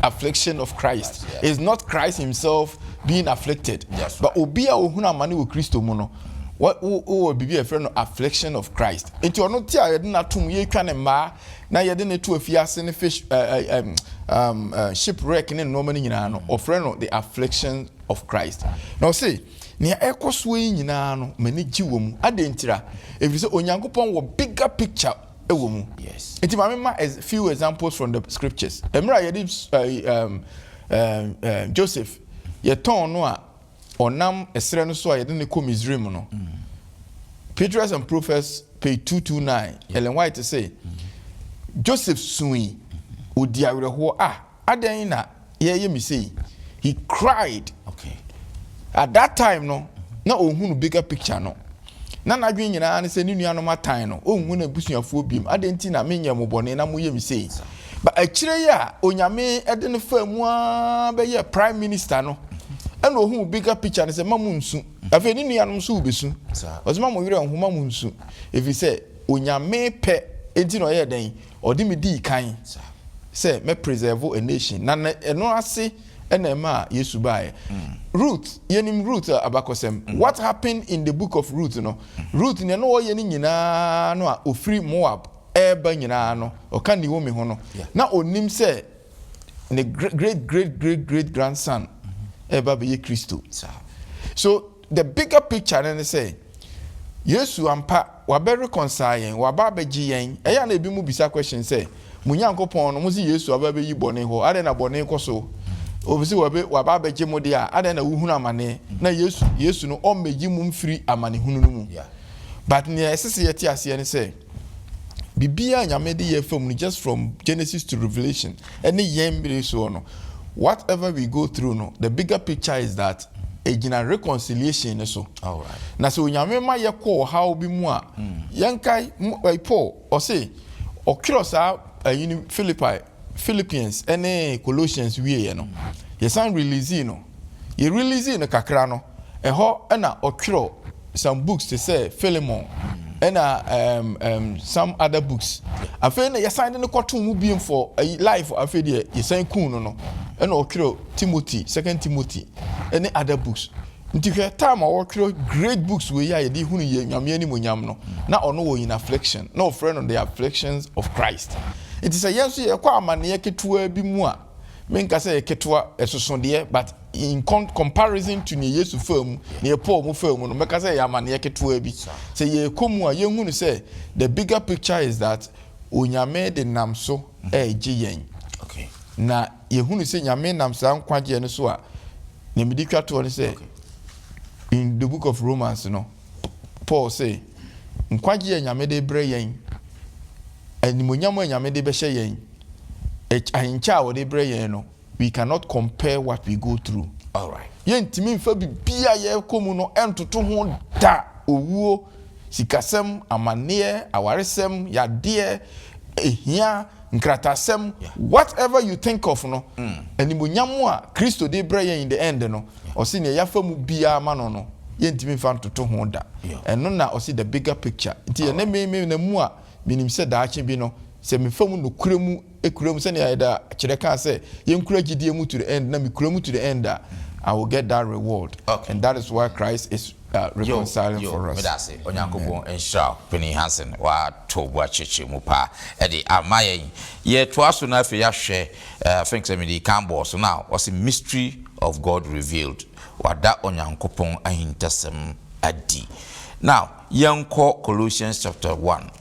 affliction of Christ is not Christ himself being afflicted but obi a ohunu amane wɔ kristo mu no wowɔ biribi a yɛfrɛ no affliction of Christ nti ɔno ti a yɛde no atom yɛtwa ne mmaa na yɛde no to afie ase ne fish uh, uh, um, um, uh, shipwreck ne nneɛma no nyinaa no ɔfrɛ no the affliction of Christ na ɔse Nea ɛrekɔ soɔ yi nyinaa no, m'ani gye wɔ mu. Adɛn ntira? Ɛfiri sɛ Onyankopɔn wɔ bigger picture wɔ mu. Nti ma me ma a few examples from the scriptures. Ɛmerɛ a yɛde Joseph yɛtɔn no a ɔnam ɛserɛ no so a yɛde no kɔ Misraim no, Patriarchs and Prophets page 229, Ellen White se, Joseph sui, ɔdi awerɛhoɔ, ah! Adɛn na yɛreyɛ me sei? He cried. Okay. At that time no, na ɔhunu bigger picture no. Na n'adwene nyinaa ne sɛ ne nuanom atan no, ɔnhu n'abusuafoɔ biom. Adɛn nti na menyɛɛ mo bɔne na moyɛ me sei? But akyire yi a Onyame de no faa mu ara bɛyɛɛ prime minister no, ɛna ɔhuu bigger picture no sɛ ma mo nsu. Afei ne nuanom nso wɔbɛsu. Ɔse ma mo werɛ nho, ma mo nsu. Ɛfiri sɛ Onyame pɛ nti na ɔyɛɛ dɛn? Ɔde me dii kan sɛ mɛ preserve a nation na na ɛno ase na ɛma Yesu baeɛ. Ruth, yɛnim Ruth abakɔsɛm. What happened in the book of Ruth no, Ruth nea na ɔyɛ no nyinaa no a ɔfiri Moab reba nyinaa no, ɔka Naomi ho no, na ɔnim sɛ ne great great great great grandson reba abɛyɛ Kristo. So. The bigger picture no ne sɛ, Yesu ampa, wabɛ reconcile yɛn, waba abɛgye yɛn. Ɛyɛ a na ebinom bisa question sɛ, Mo Nyankopɔn no, mose Yesu aba abɛyi bɔne hɔ, adɛn na bɔne kɔ so? Obese wabɛ, waba abɛgye mo deɛ a, adɛn na wohunu amane? Na Yesu, Yesu no, ɔmmɛyi mo mfiri amanehunu no mu. But nea ɛsese yɛte aseɛ ne sɛ, Biribiara a Nyame de yɛɛ fam no just from Genesis to Revelation ɛne yɛn mmere soɔ no what ever we go through no the bigger picture is that ɛgyina reconciliation no so. Alright. Na sɛ Onyame ma yɛ kɔ ɔhaw bi mu a mm. yɛnkae Paul ɔse ɔtwerɛ saa ɛyi no Philippi Philippians ne Colossians wieɛ no yɛsan releasee no yɛ releasee no kakra no ɛhɔ na ɔtwerɛ some books te sɛ Philemon ɛna um, um, some other books afei na yɛsan de no kɔto mu biem for ɛyi life afei deɛ yɛsan kun no no ɛna ɔtwerɛ Timothy second Timothy ɛne other books Nti hwɛ time a wɔtwerɛ great books wei a yɛde hunu yɛ Nyame animonyam no, na ɔno wɔ in affliction, na wɔfrɛ no the afflictions of Christ. Nti sɛ yɛn nso yɛkɔ amaneɛ ketewaa bi mu a, menka sɛ ɛyɛ ketewa, ɛsoso deɛ, but in comparison to neɛ Yesu faa mu, neɛ Paul mu faa mu no, mɛka sɛ ɛyɛ amaneɛ ketewaa bi. Sɛ yɛkɔ mu a, yɛhunu sɛ the bigger picture is that Onyame de nam so ɛregye yɛn. Na. Yɛhunu sɛ Nyame nam saa nkwagyeɛ no so a nea mede twa toɔ ne sɛ in the book of Romans no Paul se nkwagyeɛ a Nyame de brɛ yɛn, animuonyam a Nyame de bɛhyɛ yɛn, ahenkyɛ a ɔde brɛ yɛn no we cannot compare what we go through. Yɛntumi mfa biribiara a yɛkɔ mu no ntoto ho da, owuo, sikasɛm, amanneɛ, awaresɛm, yadeɛ, hia, nkrataasɛm, whatever you think of no, animuonyam a Kristo de rebrɛ yɛn in the end no, ɔse nea yɛafa mu biara ma no no, yɛntumi mfa ntoto ho da. Ɛno na ɔse the bigger picture. Nti ɛnnɛ me, menam mu a, menim sɛ daakye bi no, sɛ mefa mu nokorɛ mu, kura mu sɛnea ɛda kyerɛ kaa sɛ yɛnkura gyidie mu to the end na mekura mu to the end a I will get that reward Okay. and that is why Christ is uh, Yo, reconciling yo, for us. meda ase. Onyankopɔn nhyira wo, Panin Hansen. Woato bo akyerɛkyerɛ mu paa ɛde ama yɛn. Yɛtoa so na afei yɛahwɛ, eh, I think sɛ mede kan bɔɔ so na ɔse mystery of God revealed. Wada Onyankopɔn ahintasɛm adi. Now, yɛnkɔ Colossians chapter 1.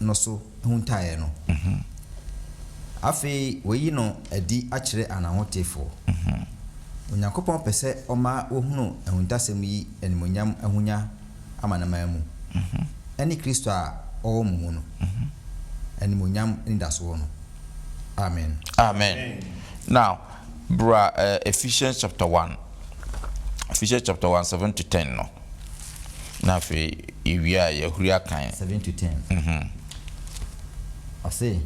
no so huntaeɛ no. Afei wayi no adi akyerɛ ananhotefoɔ. Onyankopɔn pɛ sɛ ɔma wɔhunu ahuntasɛm yi animuonyam ahonya amanaman mu, ɛne Kristo a ɔwɔ mo mu no animuonyam anidasoɔ no. Amen. Amen. Now, bra Ephesians chapter one, Ephesians chapter one, seven to ten no. Na afei yewie a, yɛahuri akan. Seven to ten. Ɔse,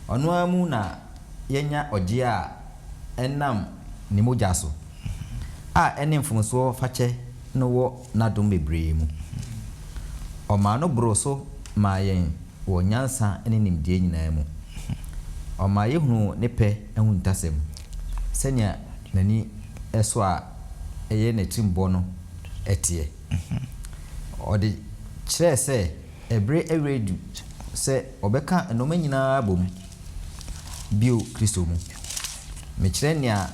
Ɔno ara mu na yɛanya ɔgyeɛ a ɛnam Ne mogya so, a ɛne mfomsoɔ fakyɛ no wɔ N'adom bebree mu. Ɔmaa no boroo so maa yɛn wɔ nyansa ne nimdeɛ nyinaa mu. Ɔmaa yɛhunuu Ne pɛ ahuntasɛm, sɛnea N'ani sɔ a ɛyɛ n'atirimbɔ no teɛ. Ɔde kyerɛɛ sɛ ɛbere awia adu sɛ ɔbɛka nnoɔma nyina ara bom bio Kristo mu. Mekyerɛ nea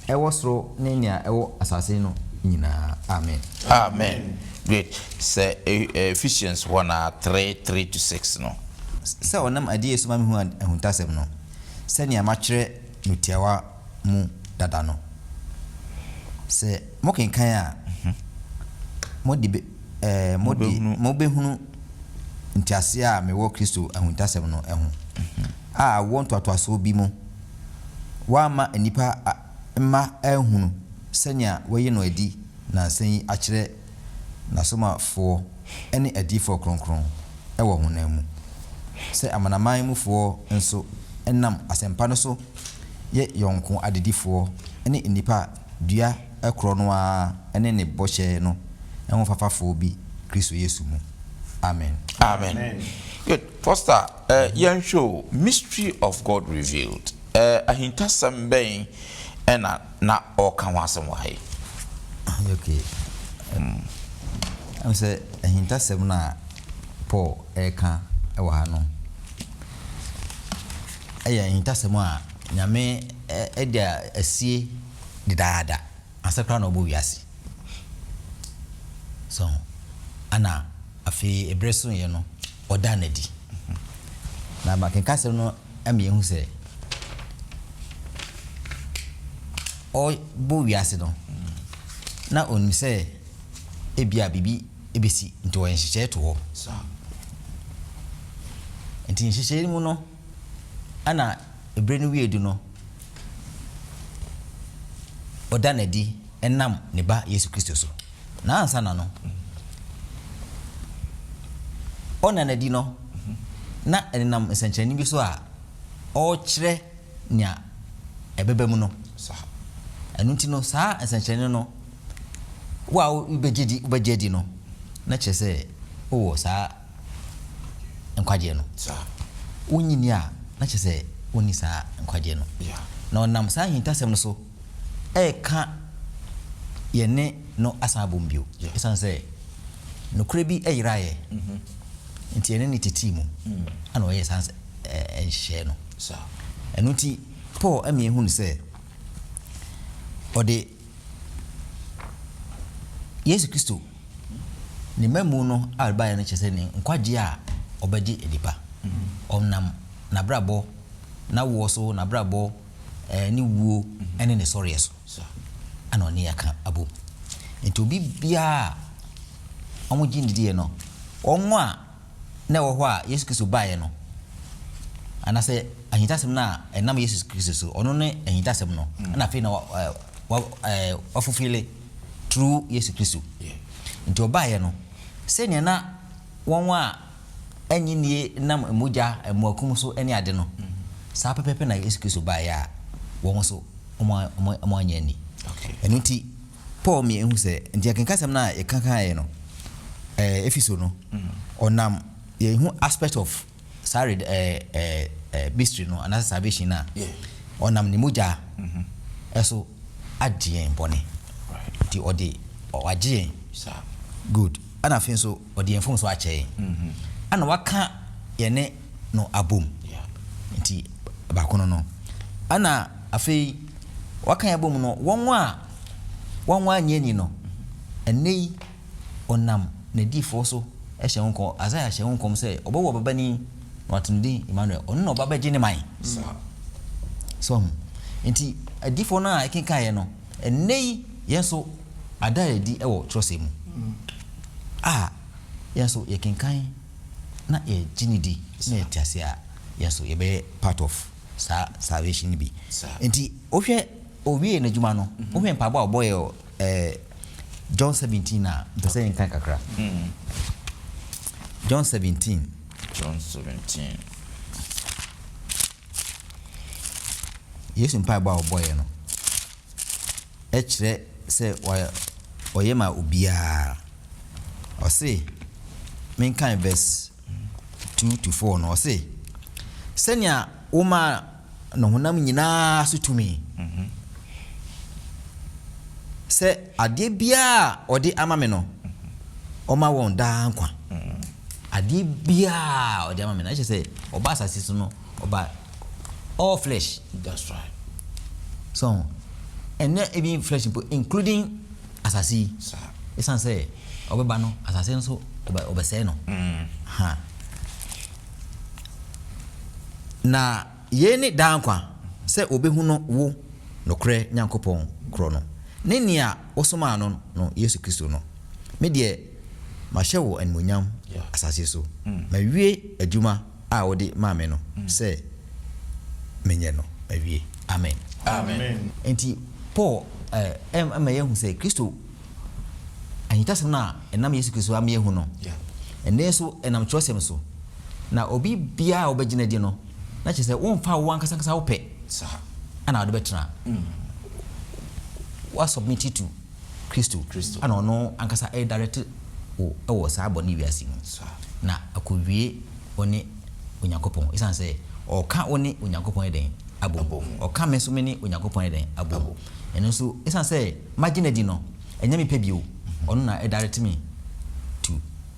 ɛwɔ soro ne nea ɛwɔ asase no nyina ara. Amen. Amen. Great. Sɛ Ephesians hɔ na three, three to six no. Sɛ ɔnam adiyɛ so ma mehunu ahuntasɛm no sɛnea matwerɛ. no tiawa mu dada no. Sɛ mokenkan a, mode be, eh, mode, Mobɛhunu. mobɛhunu nteaseɛ a mewɔ Kristo ahuntasɛm no ho, a awoɔ ntoatoasoɔ bi mu wɔamma nnipa a, mma anhunu sɛnea wɔayi no adi nnansa yi akyerɛ N'asomafoɔ ne adiyifoɔ kronkron wɔ honam mu, sɛ Amanaman mufoɔ nso nam asɛmpa no so yɛ yɔnko adedifoɔ ne nnipa a dua korɔ no ara ne ne bɔhyɛ no ho fafafoɔ bi Kristo Yesu mu. Amen. Amen. Good. Foster, yɛnhwɛ o, Mystery of God Revealed, ahintasɛm bɛn na na ɔreka ho asɛm wɔ ha yi. Okay, um, ɛmu sɛ ahintasɛm no a Paul ɛreka wɔ ha no, ɛyɛ ahintasɛm a Nyame ɛde asie dedaada ansa koraa na ɔbɔ wiase. So, ana afei ebere so yɛ no ɔda no adi. Na makenka asɛm no. ama yɛahu sɛ ɔrebɔ wiase no, na onim sɛ ebia biribi besi, nti ɔyɛ nhyehyɛe to hɔ. Nti nhyehyɛe no mu no, ɛna bere no wiei du no, ɔda no adi. ɛnam ne Ba Yesu Kristo so. Na ansa na no ɔnna no adi no, na ɛnenam nsɛnkyerɛnne bi so a ɔrekyerɛ nea ɛbɛba mu no. Ɛno nti no, saa nsɛnkyerɛnne no, wo a wobɛgye di, wobɛgye adi no, na kyerɛ sɛ wowɔ saa nkwagyeɛ no. Wonnye nni a, na kyerɛ sɛ wonni saa nkwagyeɛ no. Na ɔnam saa ahintasɛm no so, reka yɛne no asan abom bio. Esiane sɛ nokorɛ bi yeraeɛ nti, yɛne no tetee mu na ɔyɛɛ saa nhyehyɛeɛ no. Ɛno nti, Paul ma yɛhunu sɛ ɔde Yesu Kristo ne mmamu no a ɔde baeɛ no kyerɛ sɛ ne nkwagyeɛ a ɔbɛgye adi pa. Ɔnam n'abrabɔ, n'awoɔ so, n'abrabɔ, ne wuo ne ne sɔreɛ so na ɔne yɛn aka abom. Nti obi biara a wɔgye ndidiɛ no, wɔn a na ɛwɔ hɔ a Yesu Kristo baeɛ no, anaasɛ ahintasɛm no a ɛnam Yesu Kristo so, ɔno ne ahintasɛm no, ɛna afei na wafufile through Yesu Kristo. Nti ɔbaeɛ no, sɛdeɛ na wɔn a nnye nnie nam mogya, mmoakum so ne ade no, saa pɛpɛɛpɛ na Yesu Kristo baeɛ a wɔn nso wɔannye anni. Ɛno nti Paul mii ɛhu sɛ, nti akenkasɛm no a yɛkakaeɛ no Efeso no, ɔnam yɛn hu aspect of saa red mystery no anaasɛ salvation no a ɔnam ne mogya ɛso agye yɛn bɔne, nti ɔde wagye yɛn good ɛna afei nso ɔde yɛn mfomso akyɛ yɛn, ɛna waka yɛne no abom. Nti baako no no. Ɛna afei waka yɛn abom no, wɔn a wɔn annye anni no, ɛnnɛ yi ɔnam n'adiyifoɔ so hyɛ ho nkɔm, Isaiah hyɛ ho nkɔm sɛ ɔbɛwɔ ɔbabanin na wato ne din Emmanuel, ɔno na ɔba bɛgye ne man. So ahu? Nti adiyifoɔ no a ɛkenkan yɛ no, Ɛnnɛ yi, yɛn nso, ada adi wɔ twerɛsɛm mu a, yɛn nso yɛkenkan na yɛgye no di na yɛte aseɛ a, yɛn nso yɛbɛyɛ part of saa salvation no bi. Nti wohwɛ ɔwiee n'adwuma no, wohwɛ mpaebɔ a ɔbɔeɛ wɔ John 17 no a, mpɛ sɛ yɛnkan kakra. John 17. John 17. Yesu mpaebɔ a ɔbɔeɛ no kyerɛ sɛ ɔyɛ ma obiara. Ɔse, menkan verse two to four no, ɔse, Sɛnea womaa no honam nyinaa so tumi, mhm. sɛ adeɛ biara a ɔde ama me no, ɔma wɔn daa nkwa. Adeɛ biara a ɔde ama me no, na kyerɛ sɛ ɔba asase so no ɔba all flesh. That's right. So ho, ɛnɛ even flesh mpo including asase yi. Saa. Ɛsan sɛ ɔbɛba no asase no so ɔbɛ ɔbɛsɛe no. Mm. Ha. Na. Yei ne daa nkwa, sɛ wɔbɛhunu wo nokorɛ Nyankopɔn korɔ no, ne Nea wosomaa no no, Yesu Kristo no. Me deɛ, mahyɛ wo animuonyam asase so, mawie adwuma a wode maa me no sɛ menyɛ no, mawie. Amen. Enti Paul ma yɛhu sɛ Kristo ahintasɛm no a ɛnam Yesu Kristo so ama yɛahu no, ɛnnɛ nso ɛnam Kyerɛwsɛm so. Na obi biara a wobɛgyina adi no, na kyerɛ sɛ womfaa wo ankasa ankasa wo pɛ na wode bɛtena. Woasubmiti to Kristo na ɔno ankasa redirect wo wɔ saa bɔne wiase mu na akowie wo ne Onyankopɔn esiane sɛ ɔka wo ne Onyankopɔn ayɛ dɛn? Abom. Ɔka me nso me ne Onyankopɔn ayɛ dɛn? Abom. Ɛno nso, esiane sɛ magye no adi no, ɛnyɛ me pɛ bio, ɔno na ɛdirect me to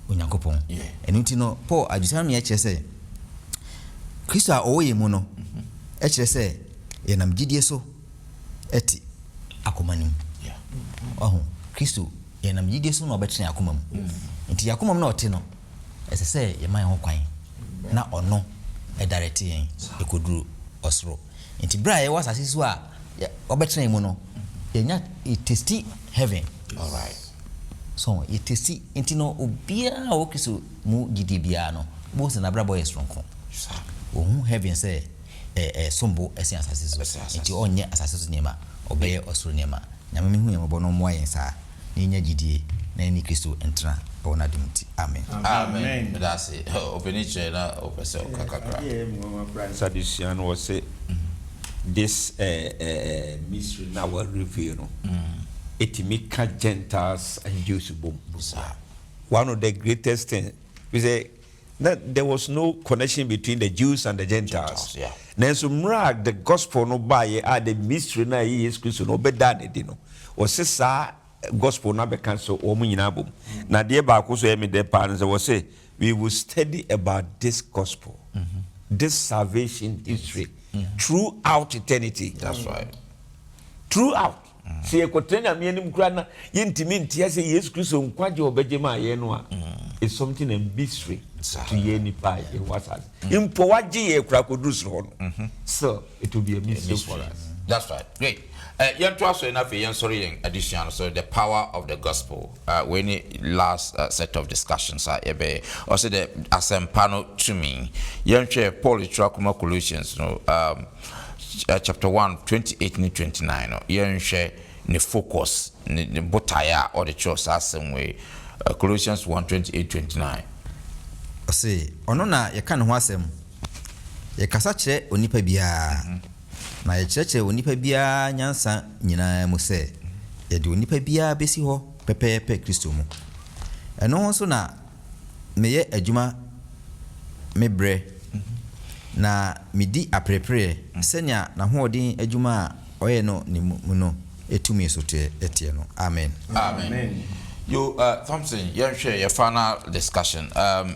Onyankopɔn. Ɛno nti no, Paul adwensakra no ma yɛkyerɛ sɛ Kristo a ɔwɔ yɛn mu no kyerɛ sɛ yɛnam gyidie so te akoma no mu. Wahu, Kristo, yɛnam gyidie so na ɔbɛtena yɛn akoma mu. Nti yɛn akoma mu na ɔte no, ɛsɛ sɛ yɛma yɛn ho kwan na ɔno direct yɛn ɛkɔduru ɔsoro. Nti berɛ a yɛwɔ asase so a wɔbɛtena yɛn mu no, yɛnya yɛtesti heaven. Alright. So yɛtesti nti no obiara a ɔwɔ Kristo mu gyidie biara no bohu sɛ n'abrabɔ yɛ soronko. Ɔhu heaven sɛ ɛsom bo sen asase so. Nti ɔnyɛ asase so nneɛma, ɔbɛyɛ ɔsoro nneɛma. Nyame mehu yɛn mmɔbɔ na ɔmmoa yɛn saa. na yɛnya gyidie na yɛne Kristo ntena wɔ n'adom nti. Amen. Amen meda ase opani kyerɛ na opɛ sɛ oka kakra. Adeɛ a ɛyɛ me nwanwa koraa ne sɛ adesua no ɔse this mystery no a wa reveal no ɛtumi ka Gentiles and Jews bom. One of the greatest thing ne sɛ. Na there was no connection between the Jews and the Gentiles. Nanso mmerɛ a the Gospel no baeɛ a the mystery no a ɛyɛ Yesu Kristo no wɔbɛdaa no adi no, wɔse saa Gospel no abɛka sɛ wɔn nyinaa abɔ mu. Na adeɛ baako nso a ɛyɛ me dɛ paa ne sɛ wɔse we will study about this Gospel, this salvation history throughout eternity. That's right. Throughout. Sɛ yɛkɔtena Nyame anim koraa na yɛntumi nte ase Yesu Kristo nkwagye a ɔbɛgye maa yɛn no a, it's something a mystery to yɛn nipa a yɛwɔ asase. Mpo wagye yɛn koraa kɔduru soro hɔ no, so it will be a mystery for us. That's right, great. Eh, yɛntoa so na afei yɛnsɔre yɛn adesua no so, The Power of the Gospel. Eh, wei ne last eh, set of discussions a yɛbɛyɛ. Ɔsɛ dɛ asɛmpa no tumi. Yɛnhwɛ Paul twerɛ akoma Colossians no, um, chapter one twenty eight ne twenty nine no, yɛnhwɛ ne focus, ne ne botaeɛ a ɔde kyerɛw saa asɛm wei. Colossians one twenty eight twenty nine. Ɔse, Ɔno na yɛka ne ho asɛm, yɛkasa kyerɛ onipa biara, na yɛkyerɛkyerɛ onipa biara nyansa nyinaa mu sɛ yɛde onipa biara besi hɔ pɛpɛɛpɛ Kristo mu. Ɛno ho nso na. meyɛ adwuma me berɛ, na medi aperepereɛ sɛnea n'ahoɔden adwuma a ɔyɛ no ne mu no tumi so teɛ no. Amen. Amen. Yo, uh, Thompson, yɛnhwɛ yɛ final discussion. Um,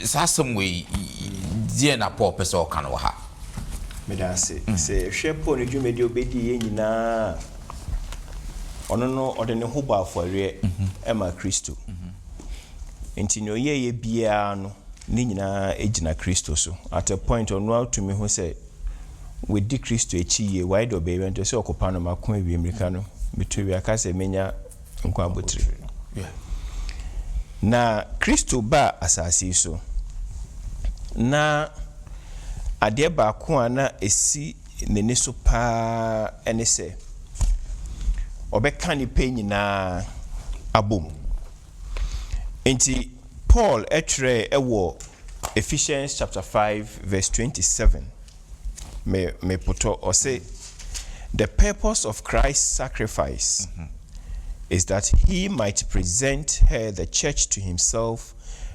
saa asɛm wei, deɛ na Paul pɛ sɛ ɔka no wɔ ha? Meda ase. Mm. Sɛ yɛhwɛ Paul ne dwumadi a ɔbɛdii yɛ nyinaa ɔno no ɔde ne ho bɔ afɔreɛ mm-hmm. ma Kristo. Mm-hmm. Enti nea ɔyɛeɛ biara no, ne nyinaa gyina Kristo so. At a point, ɔno ara tumi hu sɛ wadi Kristo akyi yie, wayɛ deɛ ɔbɛyɛ biara, nti ɔse ɔkopa no, mako awie, mirika no, metu awie, aka sɛ menya nkwa abotire. Na Kristo baa asase yi so, na adeɛ baako a na ɛsi n'ani so pa ara ne sɛ ɔbɛka nnipa nyinaa abom. Enti, Paul twerɛe wɔ Ephesians chapter five verse twenty-seven, me mepotɔ, ɔse, The purpose of Christ's sacrifice is that he might present her, the church, to himself,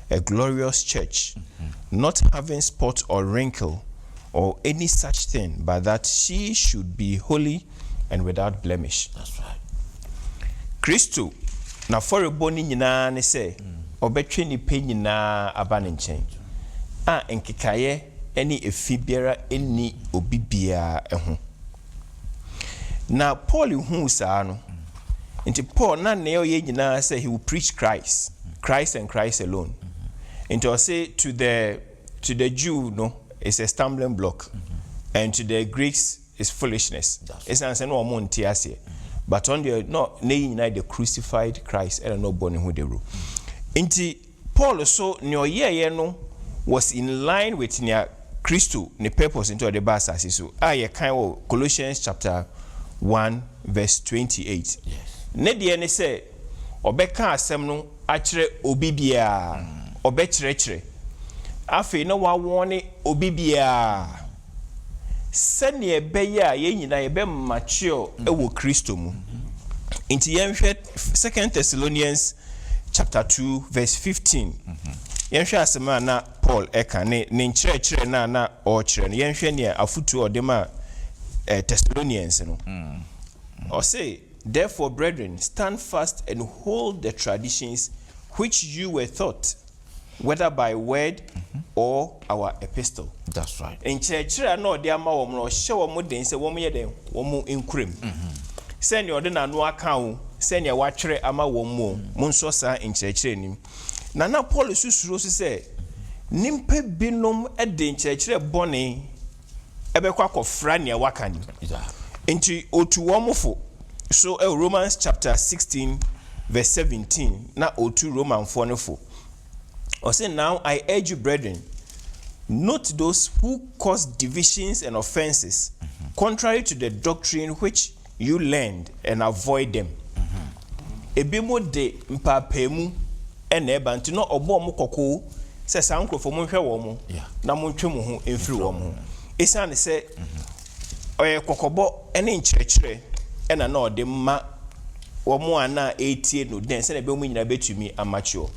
a glorious church, not having spot or wrinkle, or any such thing but that she should be holy and without blemish. Kristo n'afɔrebɔ no nyinaa ne sɛ ɔbɛtwe nnipa nyinaa aba ne nkyɛn, a nkekaeɛ ne efi biara nni obi biara ho. Na Paul huu saa no nti Paul na nea ɔyɛ nyinaa sɛ he will preach Christ, Christ and Christ alone. Nti ɔse to the To the Jew no it's a stumbling block and to the Greeks it's foolishness ɛsiane sɛ na wɔn nte aseɛ but ɔno deɛ na ne yi nyinaa the crucified Christ ɛna na ɔbɔ ne ho dawuro nti Paul so nea ɔyɛɛyɛ no was in line with nea Kristo ne purpose nti ɔde ba asase so a yɛkan wɔ Colossians chapter one verse twenty eight ne deɛ ne sɛ. ɔbɛka asɛm no akyerɛ obi biara, ɔbɛkyerɛkyerɛ. Afei na wɔawɔɔne obi biara, sɛdeɛ ɛbɛyɛ a yɛn nyinaa yɛbɛ mature wɔ Kristo mu. Nti yɛnhwɛ Second Thessalonians chapter two verse fifteen, yɛnhwɛ asɛm a na Paul ɛka ne ne nkyerɛkyerɛ no a na ɔrekyerɛ no, yɛnhwɛ nea afotuo a ɔde maa Thessalonians no. Ɔse. Therefore, brethren, stand fast and hold the traditions which you were taught, whether by word or our epistle. That's right. Nkyerɛkyerɛ a na ɔde ama wɔn no, ɔhyɛ wɔn den sɛ wɔnyɛ dɛn? Wɔnkura mu. Sɛnea ɔde n'ano aka o, sɛnea watwerɛ ama wɔn o, monsɔ saa nkyerɛkyerɛ no mu. Na na Paul nso suro nso sɛ nnipa binom de nkyerɛkyerɛ bɔne bɛkɔ akɔfra nea waka no mu. Enti otu wɔn fo. So Romans chapter sixteen verse seventeen na otu Romanfoɔ no fo? Ɔse, Now I urge you, brethren, note those who cause divisions and offences, contrary to the doctrine which You learn and avoid them Ebi mo de mpaapaamu na ɛba nti na ɔbɔ wɔn kɔkɔ sɛ saa nkorɔfoɔ mo nhwɛ wɔn na mo ntwe mo ho mfiri wɔn ho. Ɛsiane sɛ ɔyɛ kɔkɔbɔ ne nkyerɛkyerɛ na na ɔde ma wɔn a na ɛretie no dɛn sɛdeɛ ɛbɛyɛ wɔn nyinaa bɛtumi amakyuɔ.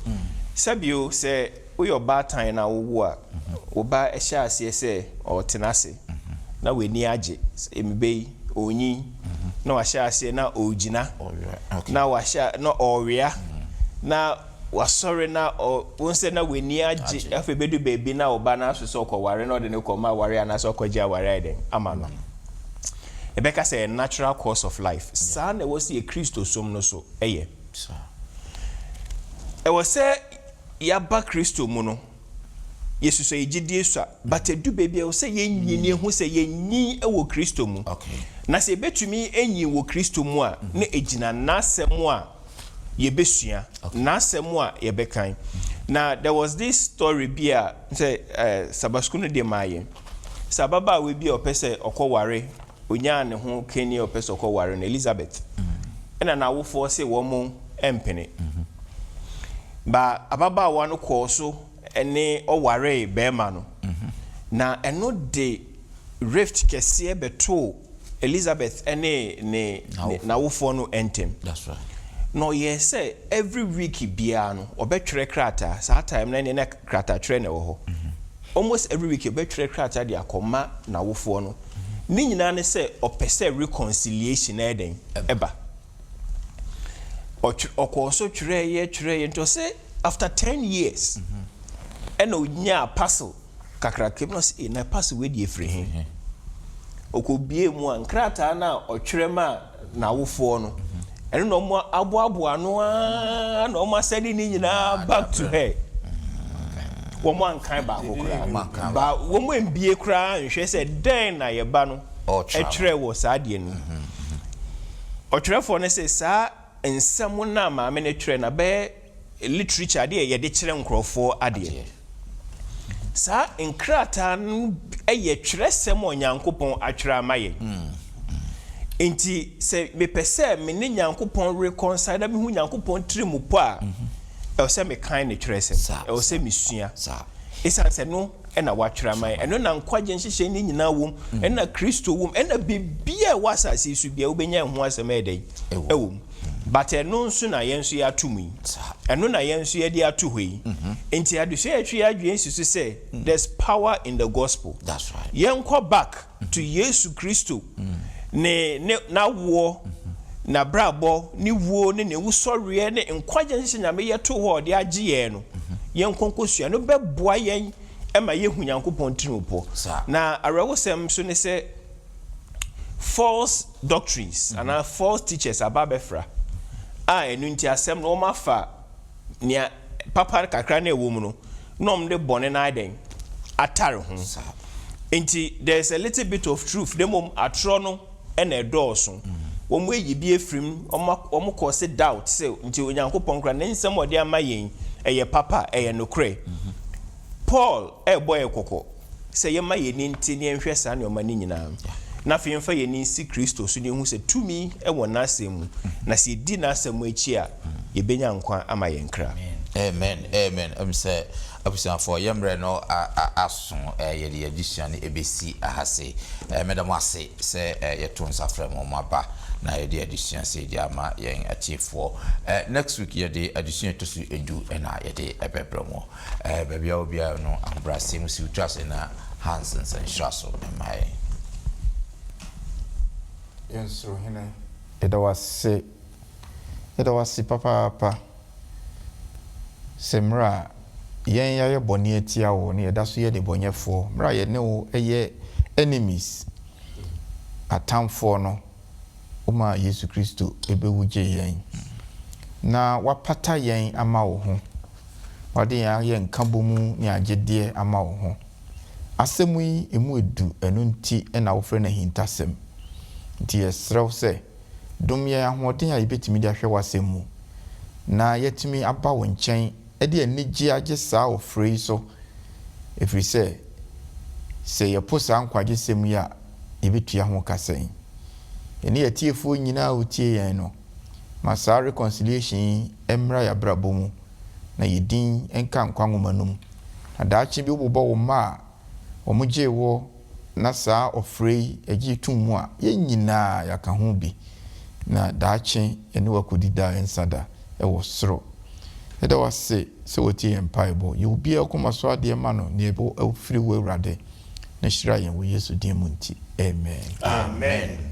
Sɛbio sɛ. Woyɛ ɔbaatan na wowo a, wo ba hyɛ aseɛ sɛ ɔretena ase na w'ani agye. Mbe yi, ɔrenyin na wahyɛ aseɛ na ɔregyina na wahyɛ na ɔrewea na wasɔre na ɔ, wohu sɛ na w'ani agye. Afei bɛdu baabi na wo ba no aso sɛ ɔkɔware na ɔde no kɔma awareɛ anaasɛ ɔkɔgye awareɛ ayɛ dɛn ama no. Yɛbɛka sɛ ɛyɛ natural course of life. Saa na ɛwɔ sɛ yɛ Kristosom no nso yɛ. Ɛwɔ sɛ. Yɛaba Kristo mu no, yɛsusua yɛ gyedie sua, but ɛdu baabi a ɛwɔ sɛ yɛnyin, yɛhu sɛ yɛnyin wɔ Kristo mu. Na sɛ yɛbɛtumi anyin wɔ Kristo mu a, na ɛgyina N'asɛm a yɛbɛsua, N'asɛm a yɛbɛkan. Na there was this story bi a sɛ Sabbath School no de maa yɛn, sɛ ababaawa bi a ɔpɛ sɛ ɔkɔware Onyaa ne ho kani a ɔpɛ sɛ ɔkɔware no, Elizabeth, ɛnna n'awofoɔ se wɔrempene. Ba ababaawa no kɔɔ so ne ɔwaree barima no, na ɛno de rift kɛseɛ bɛtoo Elizabeth ne ne n'awofoɔ no ntam. Na ɔyɛɛ sɛ every week biara no, ɔbɛtwerɛ krataa, saa time no ɛnneɛ na krataakyerɛ na ɛwɔ hɔ, almost every week ɔbɛtwerɛ krataa de akɔma n'awofoɔ no. Ne nyinaa ne sɛ ɔpɛ sɛ reconciliation ɛyɛ dɛn? Ɛba. Ɔtwe ɔkɔɔ so twerɛeɛ twerɛeɛ nti ɔse after ten years ɛna ɔnyaa parcel kakraka bi na ɔse ee na parcel wei deɛ ɛfiri he? Ɔkɔbuee mu a nkrataa no a ɔtwerɛ maa n'awofoɔ no, ɛno na wɔn aboaboa ano ara na wɔn asɛde ne nyinaa back to her. Wɔn ankan baako koraa. Ba wɔn ambie koraa nhwɛ sɛ dɛn na yɛ ba no kyerɛ wɔ saa adeɛ no mu. Ɔtwerɛfoɔ no se saa nsɛm no a maame no twerɛ no abɛyɛ. literature, adeɛ a yɛde kyerɛ nkorɔfoɔ adeɛ. Saa nkrataa no yɛ twerɛsɛm a Onyankopɔn atwerɛ ama yɛn. Enti sɛ mepɛ sɛ me ne Nyankopɔn reconcile na mehu Nyankopɔn tiri mu pɔ a, ɛwɔ sɛ mekan ne twerɛsɛm, ɛwɔ sɛ mesua. Ɛsiane sɛ ɛno na watwerɛ ama yɛn, ɛno na nkwagyeɛ nhyehyɛeɛ no nyinaa wɔ mu, ɛno na Kristo wɔ mu, ɛno na biribiara a ɛwɔ asase yi so biara wobɛnya ɛho asɛm ayɛ dɛn? Ɛwɔ mu. But ɛno nso na yɛn nso yɛato mu yi. Ɛno na yɛn nso yɛde ato hɔ yi. Nti adesua yɛtwe yɛn adwene si so sɛ there's power in the gospel. Yɛnkɔ back to Yesu Kristo ne ne n'awoɔ, n'abrabɔ, ne wuo ne ne wusɔreɛ ne nkwagye nhyehyɛ Nyame yɛ too hɔ a ɔde agye yɛn no. Yɛnkɔ nkɔsua. Ɛno bɛboa yɛn ma yɛahu Nyankopɔn tirimupɔ. Na awerɛhosɛm nso ne sɛ false. doctrines anaa false teachers aba abɛfra, a ɛno nti asɛm no wɔafa nea papa kakra no a ɛwɔ mu no na wɔde bɔne no ayɛ dɛn? atare ho. Nti there is a little bit of truth na mmom atorɔ no na ɛdɔɔso. Wɔayi bi afiri mu, wɔn wɔn cause doubt sɛ nti Onyankopɔn koraa ne nsɛm a ɔde ama yɛn yi ɛyɛ papa, ɛyɛ nokorɛ. Paul rebɔ yɛn kɔkɔ. sɛ yɛmma yɛn ani nte na yɛnhwɛ saa nneɛma no nyinaa, na afei yɛmfa yɛn ani nsi Kristo so na yɛhu sɛ tumi wɔ N'asɛm mu, na sɛ yɛdi N'asɛm akyi a, yɛbɛnya nkwa ama yɛn kra. Amen amen ɛm sɛ abusuafoɔ yɛ mmerɛ no aso ɛɛ yɛde yɛ adesua no ɛbɛsi aha sei ɛɛ mɛda mo ase sɛ ɛɛ yɛto nsa frɛ mo mo aba na yɛde adesua sei de ama yɛn atiefoɔ ɛɛ next week yɛde adesua ɛtɔ so edu ɛna yɛde ɛbɛbrɛ mo. Ɛɛ, baabi a obiara no ahobrɛaseɛ mu siw to ase na Hans nsɛnkyerɛa so mma yɛn. Yɛn Soro Hene, yɛda wo ase, yɛda wo ase papaapa sɛ mmerɛ a yɛn yɛayɛ bɔne atia wo na yɛda so yɛ nnebɔnyɛfoɔ, mmerɛ a yɛne wo yɛ enemies, atamfoɔ no, womaa Yesu Kristo bewu gyee yɛn, na wapata yɛn ama wo ho, wade yɛn ayɛ nkabomu ne agyedeɛ ama wo ho. Asɛm yi, ɛmu ɛdu, ɛno nti na wofrɛ no ahintasɛm. Nti yɛsrɛ wo sɛ, dom yɛn ahoɔden a yɛbɛtumi de ahwɛ w'asɛm mu, na yɛatumi aba wo nkyɛn de anigye agye saa ɔfrɛ yi so, ɛfiri sɛ, sɛ yɛpo saa nkwagyesɛm yi a, yɛbɛtua ho ka sɛn? Yɛne atiefoɔ nyinaa a wɔtie yɛn no, ma saa reconciliation yi mmra yɛn abrabɔ mu, na yɛn din nka nkwa nwoma no mu. Na daakye bi wobobɔ wo mma a, wɔgyee wo na saa ɔfrɛ yi gyee too mu a, yɛn nyinaa yɛaka ho bi, na daakye yɛne wo akɔdi daa yɛn nsa da wɔ soro. Yɛda wo ase sɛ woatie yɛn mpaebɔ. Yɛ obiara koma so adeɛ ma no nea ɛbɔ afiri wo, Awurade, na hyira yɛn wɔ Yesu din mu nti, amen. Amen.